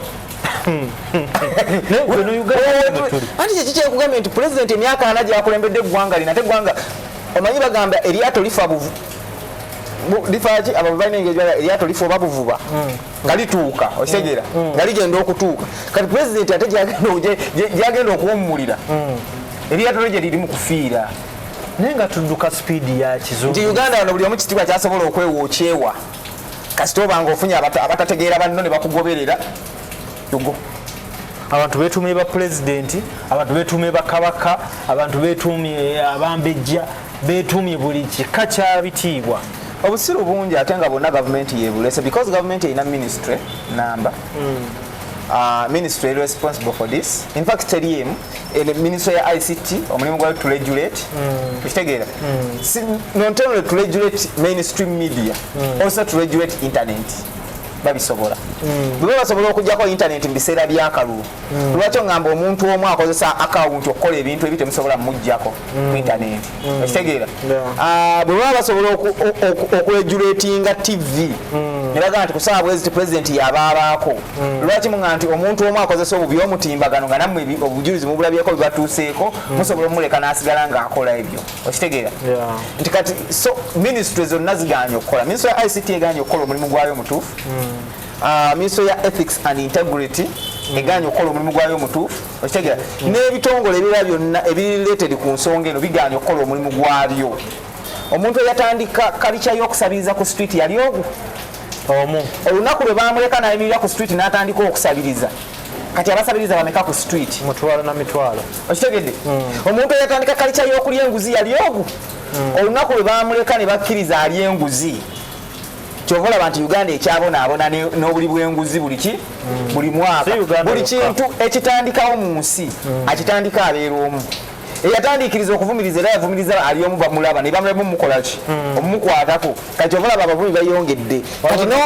[SPEAKER 1] anti kyeki kyekugambye nti pulezidenti emyaka ana gyakulembedde eggwanga lina ate eggwanga omanyi bagamba eryato lifa buvu lifaki abo balina engeri eryato lifa oba buvuba hmm. nga lituuka okitegera hmm. Hmm. nga ligenda okutuuka kati pulezidenti ate gyagenda okuwummulira eryato lyo gye liri mu kufiira naye nga
[SPEAKER 2] tudduka sipiidi ya kizungu nti uganda wano buli omu kitiibwa
[SPEAKER 1] kyasobola okwewa okyewa kasita obanga ofunye abatategeera banno ne bakugoberera yugo
[SPEAKER 2] abantu betuumye ba pulezidenti abantu betuumye ba kabaka abantu betuumye eh, abambejja betuumye buli kika kya bitiibwa obusiru bungi
[SPEAKER 1] ate nga bonna gavumenti yebulese because gavumenti erina ministry namba hmm. ah, ministry responsible for this infact teriemu ene ministry ya ICT omulimu gwa to regulate mm. kitegeera mm. si not only to regulate mainstream media mm. also to regulate internet babisobola mm. bwe basobola okujjako internet mu biseera by'akalulu mm. lwaki ongamba omuntu omu akozesa akawunti okukola ebintu ebitemusobola mujjako ku intaneti okitegeera ah, bwe baba basobola okuregulatinga tv ne bagamba nti kusaba bweziti pulezidenti yabaabaako lwaki muga nti omuntu omu akozesa obubi omutimbagano nga nammwe obujulizi mubulabyeko bibatuuseeko musobola omumuleka n'asigala ng'akola ebyo okitegeera nti kati so minisitule zonna ziganye okukola minisitule ya ict eganye okukola omulimu gwayo omutuufu ah, minisitule ya ethics and integrity eganye okukola omulimu gwayo omutuufu okitegera n'ebitongole ebirala byonna ebirileted ku nsonga eno bigaanye okukola omulimu gwabyo omuntu eyatandika kalica y'okusabiriza ku street yali ogu omu olunaku lwe bamuleka nayimirira ku street n'atandika okusabiriza kati abasabiriza bameka ku street mutwalo na mitwalo
[SPEAKER 2] okitegedde hmm.
[SPEAKER 1] omuntu eyatandika kalica y'okulya enguzi yali ogu hmm. olunaku lwe bamuleka ne bakkiriza alya enguzi kyova olaba nti uganda ekyabonaabona n'obuli bwenguzi buliki buli mwaka buli kintu ekitandikawo mu nsi hmm. akitandika abeera omu eyatandikiriza okuvumiriza era yavumiriza ali omu bamulaba nebamulamu mukolaki hmm. omumukwatako kati ovalaba abavumi bayongedde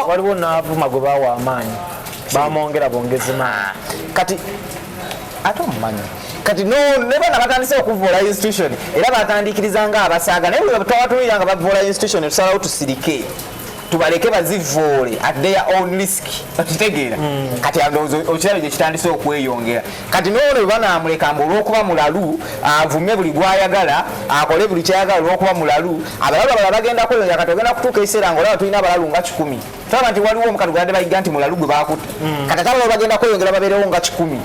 [SPEAKER 1] waliwo
[SPEAKER 2] naavuma gwe bawa amaanyi bamwongera bongezi maanyi kati
[SPEAKER 1] ate omumanyi kati nebana batandise okuvoola institution era batandikiriza nga abasaaga naye bwetwabatunulira nga bavoola institution tusalawo tusirike tubaleke bazivoole at their own risk okitegeera mm. kati okirabye gyekitandise okweyongera kati noono bwebanamuleka mbu olwokuba mulalu avume buli gwayagala akole buli kyayagala olwokuba mulalu abalalu abala bagenda kweyongera kati ogenda kutuuka ekiseera nga olaba tulina abalalu nga kikumi tulaba nti waliwo omukadde gwe badde bayiga nti mulalu gwe baakutte hmm. kati ate abalala bagenda kweyongera babeerewo nga kikumi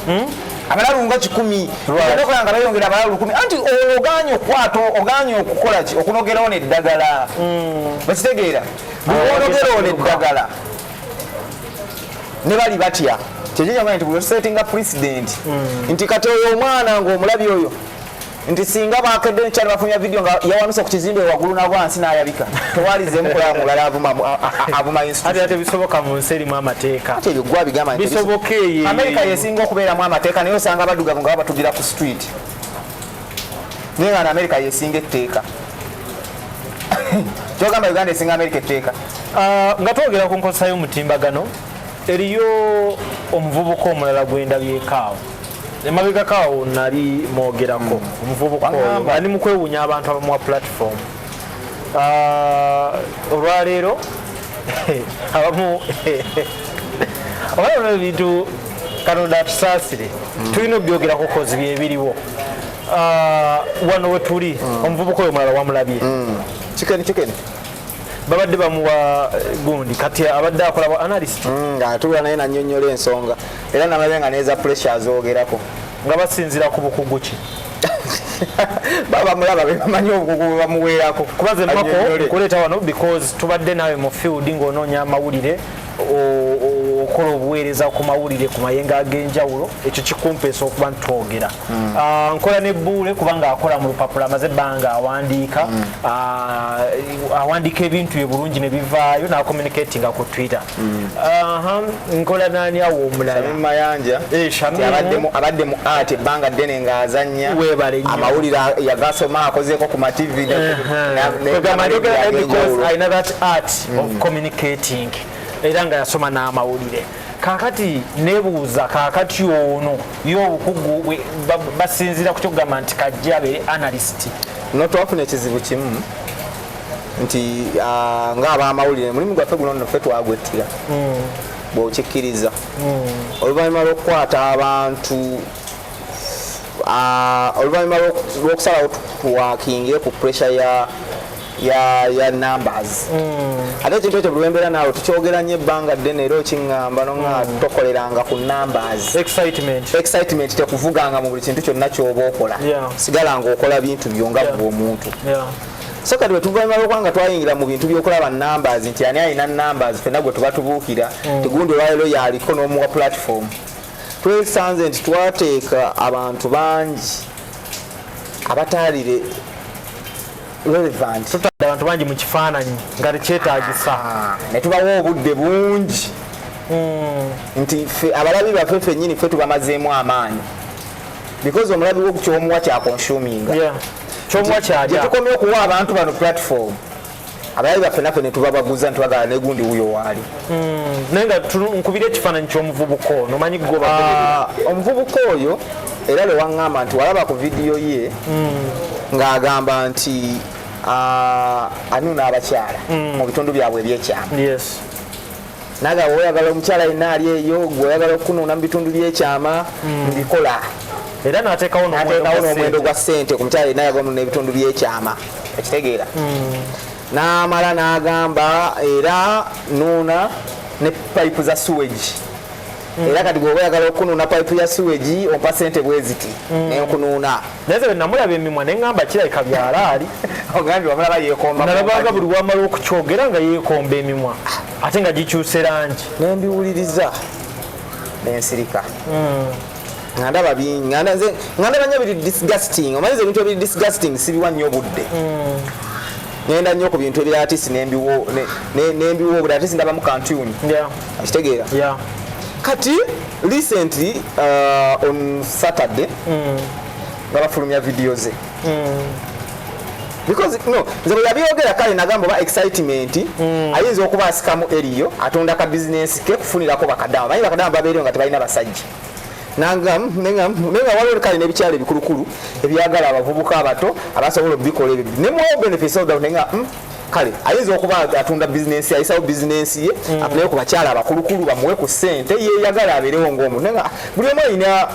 [SPEAKER 1] hmm? abalalu nga kikumi okola nga bayongera abalalu lukumi anti oganye okwata oganye okukola ki okunogerawo neddagala hmm. bakitegeera bwonogerawo neddagala ne bali batya kyekyo kyamanya nti bwesettinga president nti kati oyo omwana ngaomulabi oyo nti singa bakedde nkya ne bafulumya vidiyo nga yawanuse ku kizimbe waggulu na wansi n'ayabika tewalizeemu kulaba mulala avuma avuma ate tebisoboka mu nsi
[SPEAKER 2] erimu amateeka ate ebyo gwa bigamba nti
[SPEAKER 1] bisoboka eyo amerika
[SPEAKER 2] yesinga
[SPEAKER 1] okubeeramu amateeka naye osanga abaddugavu nga babatugira ku street naye nga na amerika yesinga etteeka kyogamba uganda esinga amerika etteeka ah, nga twogera
[SPEAKER 2] ku nkozesa y'omutimbagano eriyo omuvubuka omulala gwendabyekaawo emabegako awo nali mwogerako hmm. omuvubuka oyo ali mu kwewuunya abantu abamuwa platform ah, olwaleero abamu olaba ebintu katonda atusaasire hmm. tulina okubyogerako kozi byebiriwo ah, wano wetuli hmm. omuvubuka oyo mulala wamulabye kikeni kikeni babadde bamuwa eh, gundi kati abadde akola bwa analyst mm, nga atula naye
[SPEAKER 1] nanyonyola ensonga era namabe nga neza pressure azogerako nga basinzira
[SPEAKER 2] ku bukugu ki baba
[SPEAKER 1] mulaba bemanyi obukugu bamuweerako kubaze mako
[SPEAKER 2] nkuleeta wano because tubadde naawe mu field ng'onoonya amawulire okukola obuweereza ku mawulire ku mayenga ag'enjawulo ekyo kikumpeesa okuba nti twogera hmm. ah, nkola ne buule kubanga akola mu lupapula amaze ebbanga awandiika hmm. ah, awandiika ebintu bye bulungi ne bivaayo n'acommunicatinga ku twitter hmm. nkola naani awo omulalamayanja eh,
[SPEAKER 1] abadde mu art ebbanga ddene ng'azannya amawulire yagasoma akozeeko ku mativi
[SPEAKER 2] alina that art mm. of communicating era nga yasoma n'amawulire kakati nebuuza kakati ono ye obukugu basinziira ku kyokugamba nti kajja abeere analyst no twafuna
[SPEAKER 1] ekizibu kimu nti ah, ngaabamawulire mulimu gwaffe guno nno ffe twagwettira mm. bwokikkiriza mm. oluvannyuma lwokukwata abantu ah, oluvannyuma lwokusalawo twakinge ku pressure ya ya ya numbers mm. ate ekintu ekyo bwembera naawe tukyogera nnyo ebbanga ddene era okiŋŋamba no nga mm. tokoleranga ku numbers excitement excitement tekuvuganga mu buli kintu kyonna kyoba okola yeah. sigala nga okola bintu byo nga yeah. omuntu yeah. so kati wetuvanyuma lwokwanga twayingira mu bintu byokulaba numbers nti ani alina numbers fena gwe tuba tubuukira mm. tigundi olwalero yaliko n'omuwa platform twesanze nti twateeka abantu bangi abataalire relevant tutadde abantu bangi
[SPEAKER 2] mu kifaananyi nga tekyetagisa ah, ne tubawa
[SPEAKER 1] obudde bungi hmm. nti fe abalabi baffe fenyini fe tubamazeemu amaanyi because omulabi wo kyomuwa kyakonsuminga yeah.
[SPEAKER 2] kyomuwa
[SPEAKER 1] kyalya tetukomye okuwa abantu bano
[SPEAKER 2] platform
[SPEAKER 1] abalabi baffe naffe netubabaguza nti bagala negundi wuyo waali Hmm, naye nga
[SPEAKER 2] nkubira ekifaananyi ky'omuvubuka ono manyi goba ah, omuvubuka
[SPEAKER 1] oyo era lwe waŋŋamba nti walaba ku vidiyo ye hmm. ng'agamba nti ah, anuna abakyala hmm. mu bitundu byabwe ebyekyama naga oyagala omukyala yenna ali eyo gwe oyagala okunuuna mu bitundu byekyama mbikola era
[SPEAKER 2] nateekawo n'omuwendo gwa
[SPEAKER 1] ssente ku mukyala yenna yagamunuuna ebitundu byekyama ekitegeera N'amala n'agamba era nuuna ne payipu za suwegi Mm. era kati bwoba oyagala okunuuna paipu ya siwegi ompa sente bweziti mm. nenkunuuna naye ze namulaba
[SPEAKER 2] emimwa neŋamba kirabika byalaali ogambye wamulaba
[SPEAKER 1] yekombanabaga buli wamala
[SPEAKER 2] okukyogera nga yekomba emimwa ate nga gikyuse langi nembiwuliriza
[SPEAKER 1] nensirika mm. nga ndaba bingi nga ndaba nnyo biri disgusting omanyiza ebintu ebiri disgusting sibiwa nnyo obudde nenda nnyo ku bintu ebirala tisi nembiwa obudde atisi ndabamu kantuni akitegeera kati recently uh, on saturday mm. nga bafulumya vidiyo ze mm. because no nze bwe yabyogera kale nagamba oba excitement mm. ayinza okuba asikamu eriyo atunda ka bizinensi ke kufunirako bakadaama manyi bakadaama babeereyo nga tebalina basajja nanga nenga nenga waliwo kale n'ebikyalo ebikulukulu ebyagala abavubuka abato abasobola okubikola ebyo ne mu benefits of that nenga mm, kale ayinza okuba atunda bizinensi ayisawo bizinensi ye mm. afuneyo ku bakyala abakulukulu bamuwe ku ssente yeyagala abeerewo ng'omu nenga buli omu alina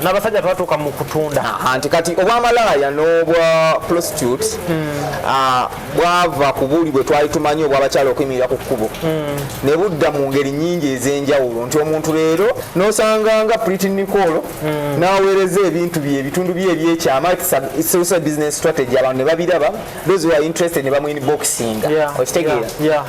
[SPEAKER 2] nabasajja twatuuka mu kutunda nti kati
[SPEAKER 1] obwamalaaya n'obwa prostitute hmm. ah, bwava ku buli bwe twali tumanyi obwabakyala okuyimirira ku kkubo hmm. ne budda mu ngeri nyingi ez'enjawulo nti omuntu leero n'osanga nga priti nicolo hmm. n'aweereza ebintu bye ebitundu bye ebyekyama business strategy abantu ne babiraba those who are interested ne bamu inboxing okitegeera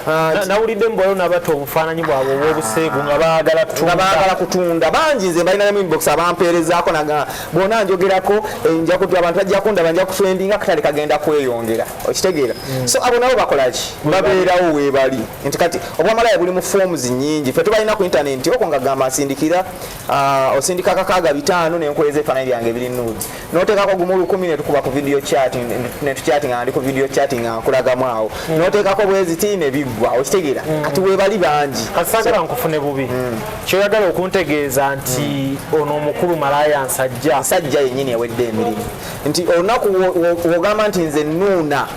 [SPEAKER 1] nawulidde
[SPEAKER 2] mbwayo nabata obufaananyi bwabwe obwobuseegu nga baagala kutunda nga baagala kutunda bangi
[SPEAKER 1] nze balina nemu inbox abampeerezaako naga bona njogerako eh, nja kutu abantu bajja kundaba nja kufendinga katale kagenda kweyongera okitegeera mm. so abo nabo bakolaki babeerawo weebali nti kati obwamalaya buli mu forms nyingi fe tubalina ku intaneti oko nga gamba asindikira Uh, osindika kakaaga bitaano nenkweza efaananyi byange biri nude noteekako gumu lukumi netukuba ku video chatting netuchatting andi ku video chatting akulagamu awo mm. noteekako bweziti nebiggwa okitegera mm. kati webali bangi kasagala so, nkufune
[SPEAKER 2] bubi mm. kyoyagala okuntegeeza nti mm. ono omukulu malaya nsajja nsajja yenyini ewedde emirimu
[SPEAKER 1] nti olunaku wogamba nti nze nuuna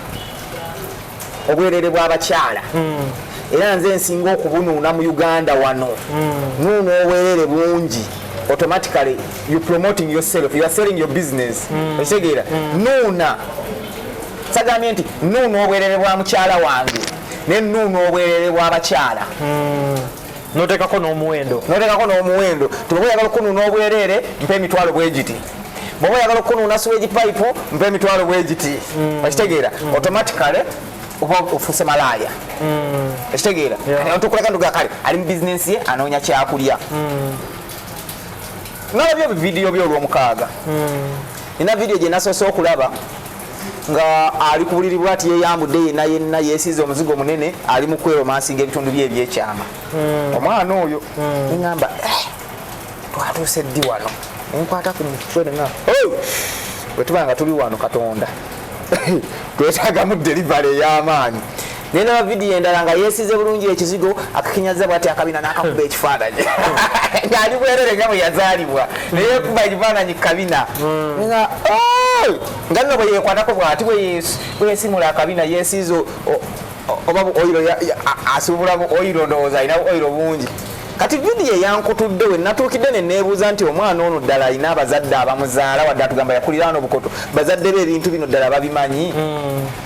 [SPEAKER 1] obwerere bw'abakyala hmm. era nze nsinga okubunuuna mu uganda wano hmm. nuuna obwerere bungi automatically you promoting yourself you are selling your business hmm. okitegeera nuuna sagambye nti nuuna obwerere bwa mukyala wange ne nuuna obwerere bw'abakyala
[SPEAKER 2] notekako n'omuwendo notekako n'omuwendo
[SPEAKER 1] tibwoba oyagala okunuuna obwereere mpa emitwalo bwegiti bwoba oyagala okunuuna siwegi pipe mpa emitwalo bwegiti mm. okitegeera mm. automatically oba ofuse malaaya mm. ekitegeera tukuleka nduga kale ali mu bizinensi ye anoonya kyakulya mm. nalabye ebividiyo byo olwomukaaga mm. nina vidiyo gye nasoose okulaba nga ali ku buliri bwati yeyambudde yenna yenna yesiize omuzigo munene ali mu kweromansinga ebitundu bye ebyekyama hmm. omwana oyo hmm. neŋamba eh, twatuuse ddi wano nenkwata ku mutwe nea bwetuba nga tuli wano katonda twetagamu delivery ey'amaanyi naye naba vidiyo endala nga yesize bulungi ekizigo akakinyaza bwati akabina nakakuba hmm. ekifaananyi hmm. ngaali bwerere nga bwe yazaalibwa neyekuba ekifaananyi kukabina hmm. nga oh! nga nno bwe yekwatako bwati bweyesimula akabina yesiiza oba oiro asubulamu oiro ndowooza alina oiro bungi kati vidiyo eyankutudde we natuukidde ne neebuuza nti omwana ono ddala alina abazadde abamuzaala wadde atugamba yakulira ano obukoto bazadde be ebintu bino ddala babimanyi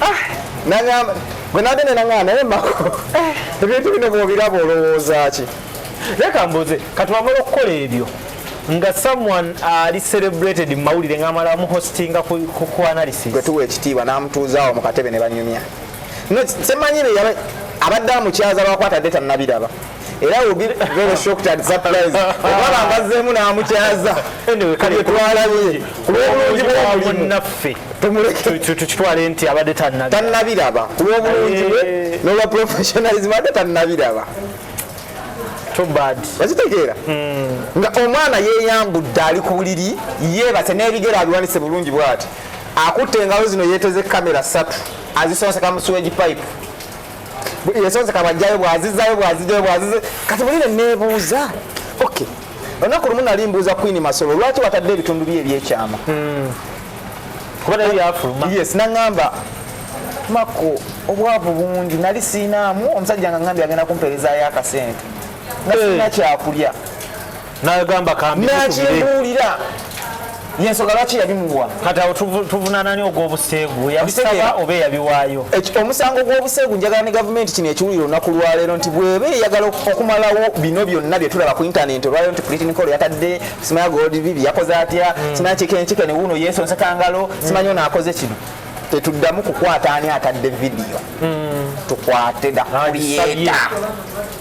[SPEAKER 1] ah, nangamba gwe nagende nangamba naye mako eh. ebintu bino bwobiraba olowooza ki leka mbuze
[SPEAKER 2] katwamala okukola ebyo nga someone ali uh, celebrated mu mawulire ng'amala amuhostinga
[SPEAKER 1] ku
[SPEAKER 2] analysis
[SPEAKER 1] gwe tuwa ekitiibwa n'amutuuzaawo mu
[SPEAKER 2] katebe ne
[SPEAKER 1] banyumya no semanyi abadde amukyaza lwakwata deta nabiraba era will be very shocked and surprised obaba ngazzeemu n'amukyaza
[SPEAKER 2] twalaye ku
[SPEAKER 1] lw'obulungi bw'omulimunaffe
[SPEAKER 2] tukitwale
[SPEAKER 1] nti
[SPEAKER 2] abadde tannabiraba
[SPEAKER 1] ku lw'obulungi bwe eh. n'olwa professionalism abadde tannabiraba
[SPEAKER 2] okitegeera hmm.
[SPEAKER 1] nga omwana yeyambudde ali ku buliri yeebase n'ebigere abiwanise bulungi bwati akutte engalo zino yeeteze kamera ssatu azisonseka musuweji pipe yasooze kabajjayo bwazizayo bwazijayo bwazize kati bulire nebuuza okay olunaku lumu nali mbuuza queen masolo lwaki watadde ebitundu bye ebyekyama hmm.
[SPEAKER 2] kuba nayo yafuluma yes naŋamba
[SPEAKER 1] mako obwavu bungi nali siinaamu omusajja nga ŋambye agenda kumpeerezayo akasente nga sina eh. kyakulya nagamba
[SPEAKER 2] kambiakimbuulira
[SPEAKER 1] yensonga lwaki yabimuwa kati awo
[SPEAKER 2] tuvunanani ogwobuseegu yabisaba oba eyabiwaayo omusango gw'obuseegu
[SPEAKER 1] njagala ne gavumenti kino ekiwulira olunaku lwaleero nti bweba eyagala okumalawo bino byonna byetulaba ku intanenti olwaleero nti pulitinikolo yatadde simaya goldivivi yakoze atya hmm. simaya kikenkike ne wuuno yesonsakangalo hmm. simanyi ono akoze kino tetuddamu kukwata ani atadde vidiyo hmm. tukwate dakuliyeta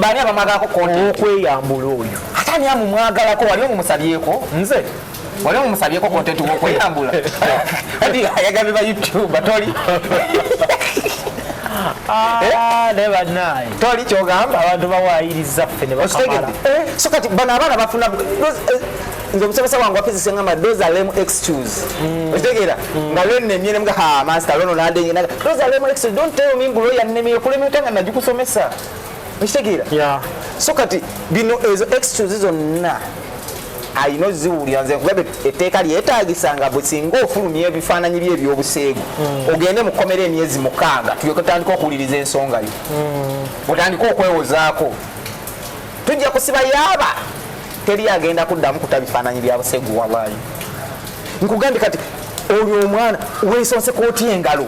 [SPEAKER 1] bani abamwagako konti okweyambula oyo
[SPEAKER 2] ate ani amumwagalako
[SPEAKER 1] wali omumusabyeko nze
[SPEAKER 2] wali omumusabyeko
[SPEAKER 1] kontenti wokweyambula adi ayagabe ba youtube toli
[SPEAKER 2] ah, eh? naye banaye toli kyogamba
[SPEAKER 1] abantu bawayiriza
[SPEAKER 2] ffe ne bakamala eh, so kati bano
[SPEAKER 1] abaana bafuna eh, nze omusomesa wange wafizisi ngamba those are lame excuse mm. okitegeera mm. nga lwenemye ne ha master lono nadenye naga those are lame excuse don't tell me mbu lawyer nnemye okulema otya nga nagikusomesa okitegeera yeah. so kati bino ezo excuse zonna alina oziwulira nze nkugabe etteeka lyetaagisa nga bwesinga ofulumya ebifaananyi bye ebyobuseegu hmm. ogende mu kkomera emyezi mukaaga tulyoke tutandika okuwuliriza ensonga yo hmm. otandike okwewozaako tujja kusiba yaaba teri agenda kuddamu kuta bifaananyi bya busegu wallahi nkugambye kati oyo omwana wesonse kooti engalo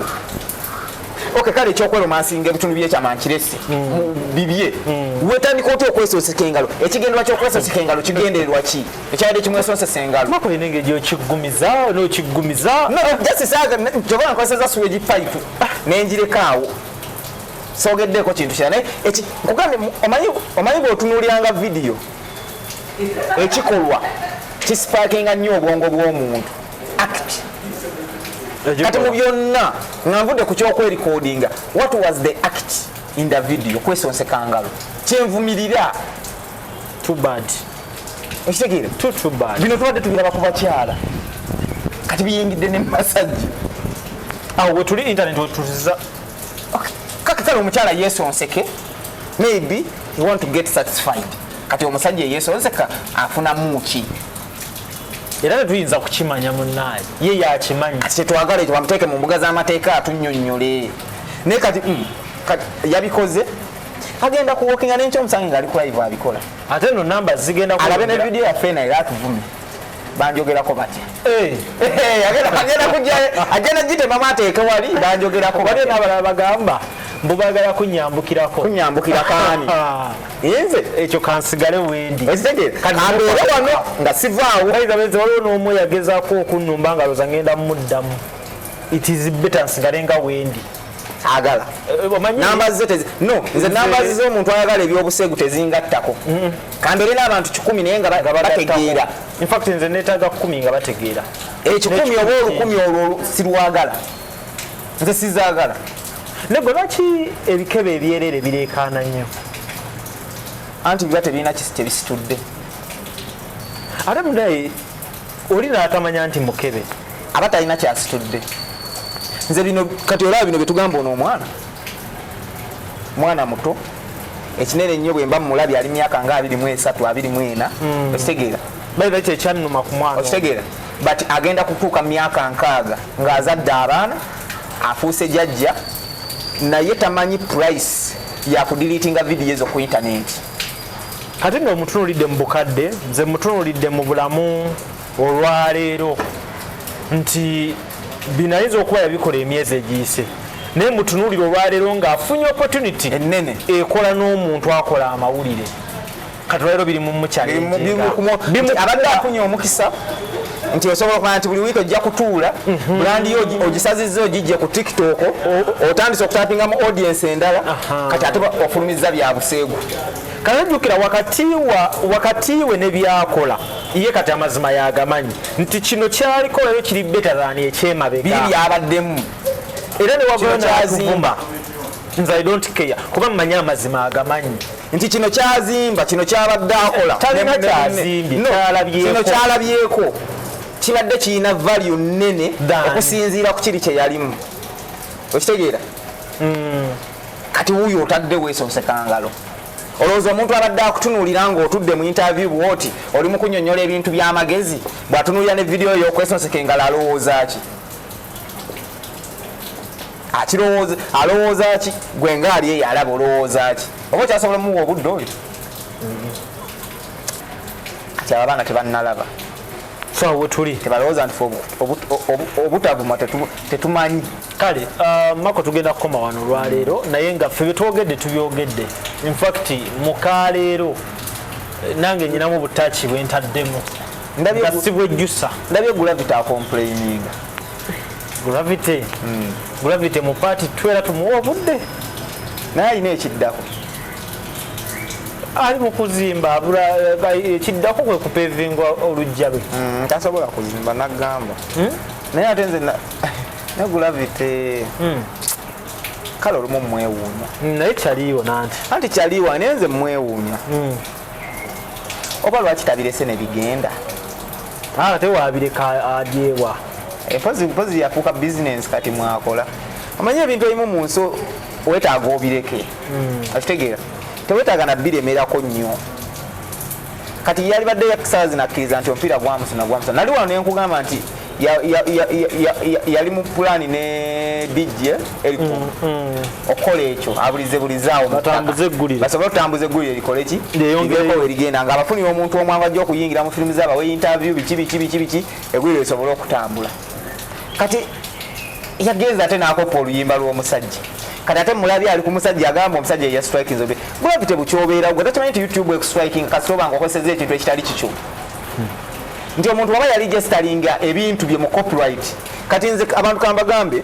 [SPEAKER 1] ok kale ekyokwelomasiinga ebitundu byekyamankiresi mm. bibye mm. wetandika otya okwesonseka engalo ekigendera kyokwesonseka engalo kigendererwa ki ekyabadde kimwesonsesa
[SPEAKER 2] engalojasisaaga
[SPEAKER 1] njoba nkozeseza suweji pipe nenjirekaawo sogeddeko kintu kira naye nkugambye omanyi bwotunuuliranga vidiyo ekikolwa kisipakinga nnyo obwongo bw'omuntu act kati mu byonna nga nvudde ku kyokwerikodinga what was the act in the video kwesonsekangalo kyenvumirira
[SPEAKER 2] too bad okitegeera
[SPEAKER 1] too too bad
[SPEAKER 2] bino tubadde tubiraba ku
[SPEAKER 1] bakyala kati biyingidde ne masajja
[SPEAKER 2] awo wetuli internet wetuziza
[SPEAKER 1] kakitala omukyala yesonseke maybe he want to get satisfied kati omusajja eyesonseka afunamu ki
[SPEAKER 2] era tetuyinza kukimanya munaaye ye yakimanyi kati tetwagala ekyo
[SPEAKER 1] bamuteeke mu mbuga z'amateeka atunyonyole naye kati mm, yabikoze agenda kuwokinga nenkyomusange ngaali kulive abikola ate no namba
[SPEAKER 2] zigenda alabe ne vidiyo yaffe
[SPEAKER 1] naye era atuvume banjogerako batya eh. eh, agenda gitemamu ateeke wali banjogerako waliyo nabalala bagamba
[SPEAKER 2] mbubagala kunyambukirako kunyambukira kaani
[SPEAKER 1] ah. nze ekyo kansigale
[SPEAKER 2] wendi ekitegekaambeere
[SPEAKER 1] wano nga sivaawo aizabenze waliwo n'omu
[SPEAKER 2] yagezaako okunnumba nga loza ngenda muddamu it is better nsigale nga wendi agala
[SPEAKER 1] eh, namba ze no nze namba ze omuntu ayagala ebyobusegu tezingattako mm-hmm. kambeere n'abantu kikumi naye nga bategeera infact nze
[SPEAKER 2] netaaga kumi nga bategeera ekikumi eh, oba
[SPEAKER 1] olukumi olwo sirwagala nze sizaagala ne gwe
[SPEAKER 2] lwaki ebikebe ebyerere bireekaana nnyo
[SPEAKER 1] anti biba tebirina kisi tebisitudde
[SPEAKER 2] ate mudaye oli natamanya nti mukebe aba talina
[SPEAKER 1] kyasitudde nze bino kati olaba bino byetugamba ono omwana mwana muto ekinene nnyo bwemba mumulabi ali myaka nga 23 24 hmm. okitegeera baibakyekyannuma
[SPEAKER 2] ku mwana okitegeera but
[SPEAKER 1] agenda kutuuka myaka nkaaga ng'azadde abaana afuuse jajja naye tamanyi price yakudiliitinga vidiyo ezo ku intaneti
[SPEAKER 2] kati no mutunulidde mu bukadde nze mutunulidde mu bulamu olwaleero nti binayinza okuba yabikola emyezi egiyise naye mutunulire olwaleero ngaafunye opportunity enene ekola
[SPEAKER 1] n'omuntu
[SPEAKER 2] akola amawulire kati olwaleero biri mumukyabadde
[SPEAKER 1] afunye omukisa nti osobola okumanya nti buli wiiki ojja kutuula mhm. bulandi yo ogisazizza ogijje ku tiktok otandise okutapingamu audiensi endala kati ate ofulumizza bya buseegu kale jjukira
[SPEAKER 2] wakati we ne byakola ye kati amazima yagamanyi nti kino kyaliko leero kiri betadhani ekyemabega biri byabaddemu
[SPEAKER 1] era ne
[SPEAKER 2] wagona kyazimba nze i don't care kuba mmanyi amazima agamanyi nti kino
[SPEAKER 1] kyazimba kino kyabadde akola
[SPEAKER 2] kino
[SPEAKER 1] kyalabyeko kibadde kirina value nnene okusinziira ku kiri kyeyalimu okitegeera hmm. kati wuyo otadde weesosekangalo olowooza omuntu abadde akutunuulira ng'otudde mu interview bwoti oli mu kunyonyola ebintu by'amagezi bw'atunuulira ne vidiyo yokwesonseka engalo alowooza ki akirowooza alowooza ki gwe nga ali eyo alaba olowooza ki oba okyasobola omuwa obudde oyo kati abo abaana tebannalaba
[SPEAKER 2] fawetuli tebalowooza nti
[SPEAKER 1] obutavuma tetumanyi kale uh,
[SPEAKER 2] mako tugenda kukoma wano olwaleero naye nga ffe byetwogedde tubyogedde infact mukaleero nange nyinamu obutaki bwentaddemu ndabye gravity
[SPEAKER 1] akomplaininga gravity mm.
[SPEAKER 2] gravity mu party twera tumuwa obudde naye alina
[SPEAKER 1] ekiddako
[SPEAKER 2] ali mu kuzimba eh, ekiddako kwe kupevinga olujja lwe mm, tasobola kuzimba
[SPEAKER 1] nagamba hmm? naye ate nze ne gravity hmm. kale olumu mwewuunya naye kyaliiwo
[SPEAKER 2] nanti anti kyaliiwa
[SPEAKER 1] naye nze mwewuunya hmm. oba lwaki tabirese nebigenda ah,
[SPEAKER 2] ate wabireka adyewa eh, mpozi mpozi
[SPEAKER 1] yafuuka bizinensi kati mwakola omanyi ebintu ebimu mu nsi wetaaga obireke hmm. akitegeera tewetaaga nabiremerako nnyo kati yalibadde yakisazi nakkiriza nti omupiira gwamusuna gwamusuna nali wano nenkugamba nti yali mu pulaani ne dj eriku mm, mm. okukola ekyo abulize bulizaawo basobole otambuza eggulire likole ki lyeyogereko erigenda nga abafunira omuntu omwanga ajja okuyingira mu firimu zaaba we interview biki biki biki biki eggulire lisobole okutambula kati yagenza ate nakoppa oluyimba lw'omusajja kati ate mulabi ali ku musajja agamba omusajja eya strikinze gravity bukyobeerawo gwe takimanyi nti youtube ekustriking kasita obanga okozeseza ekintu ekitali kikyo nti omuntu waba yali gesitalinga ebintu bye mu copyright kati nze abantu kambagambe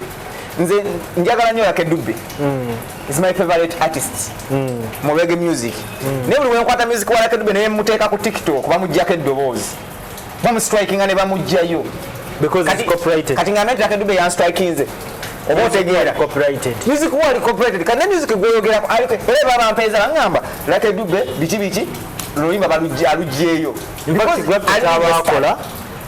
[SPEAKER 1] nze njagala nyo yake dubbe mm. is my favorite artist mm. mu rege music mm. naye buli wenkwata music wa yake dubbe naye muteeka ku tiktok bamujjako eddoboozi bamustrikinga ne bamujjayo
[SPEAKER 2] kati nga nati yake dubbe
[SPEAKER 1] yanstrikinze oba otegeera music wali copyrighted kati ne music gweyogerako era babampeeza bangamba yake dubbe biki biki lulimba balujja alujjeeyo
[SPEAKER 2] lwakola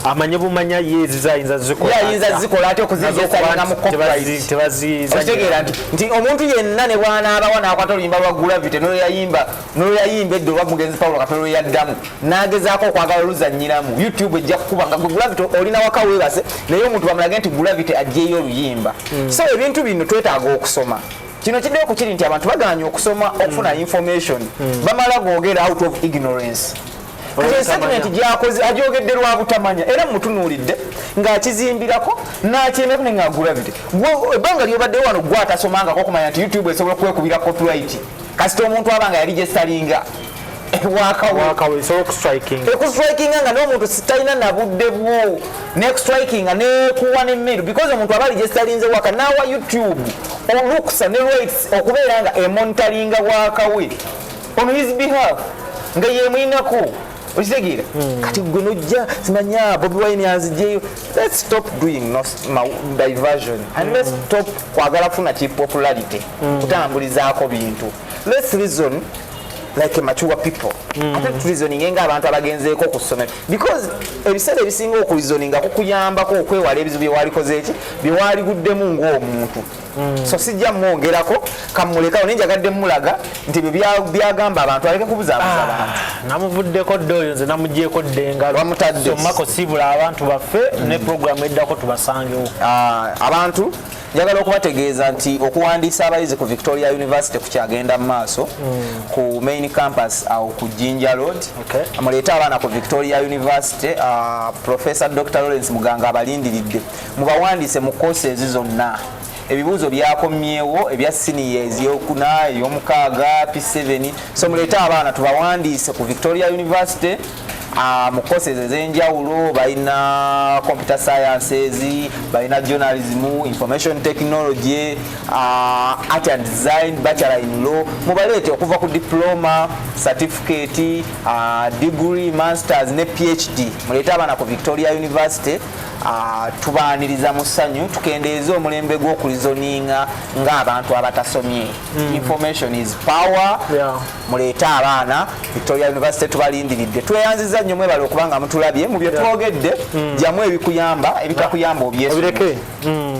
[SPEAKER 2] amanye bumanya ye zizayinza zikolaaayinza zikola
[SPEAKER 1] ate okuzizesalinga mu kopitegeera nti nti omuntu yenna ne bwanaabawa nakwata oluyimba lwa gravity noyayimba noyayimba edda oba mugenzi paulo katono lweyaddamu nagezaako okwagala oluzanyiramu youtube ejja kukuba nga gravity olina waka webase naye omuntu bamulage nti gravity ajjeeyo oluyimba hmm. so ebintu bino twetaaga okusoma kino kiddeo ku kiri nti abantu bagaanyi okusoma okufuna hmm. information hmm. bamala googera out of ignorance kati esetimenti gyakoze agyogedde lwa butamanya era mutunuulidde ng'akizimbirako n'akyemeko nenge agulabire ebbanga lyobadde wano gwatasomangako okumanya nti youtube esobola kwekubira copyright kasita omuntu aba nga yali gyesalinga ekustrikinga nga nomuntu sitalina nabudde bwo nekustrikinga nekuwa nemiru because omuntu aba aligestalinze waka nawa youtube olukusa ne rights okubeera nga emonitalinga wakawe on his behalf nga yemuyinako okitegeera hmm. kati gwe nojja simanya bobi wine anzijeyo let's stop doing no, ma, diversion and let's hmm. stop kwagala funa ki popularity hmm. kutambulizaako bintu let's reason like a mature people mm. ate tulizoninga nga abantu abagenzeeko ku ssomero because ebiseera ebisinga okulizoninga kukuyambako okwewala ebizibu byewalikoze eki byewaliguddemu ngaomuntu mm. so sijja mwongerako kamulekawo naye njagadde mulaga nti ebyo byagamba abantu aleke kubuzaabuza ah, abantu namuvuddeko dde
[SPEAKER 2] oyo nze namugyeko ddengalomako sibula abantu baffe mm. ne programu eddako tubasangewo ah, abantu
[SPEAKER 1] Njagala okubategeeza nti okuwandiisa abayizi ku Victoria University ku kyagenda mu maaso mm. ku main campus awo ku Jinja Road okay. muleete abaana ku Victoria University uh, Professor Dr. Lawrence Muganga abalindiridde mubawandiise mu courses zonna ebibuuzo byakomyewo ebya siniya ezyokuna eyomukaaga p7 so muleete abaana tubawandiise ku Victoria University Ah, mu courses ez'enjawulo balina computer sciences balina journalism information technology ah, art and design bachelor in law mubaleete okuva ku diploma certificate ah, degree masters ne phd muleete abaana ku victoria university tubaaniriza mu ssanyu tukendeeze omulembe gw'okulizoninga ng'abantu abatasomye hmm. information is power yeah. muleete abaana victoria university tubalindiridde tweyanziza nnyo mwebale okuba nga mutulabye mu byetwogedde mm. jamu ebikuyamba ebitakuyamba obyesireke mm.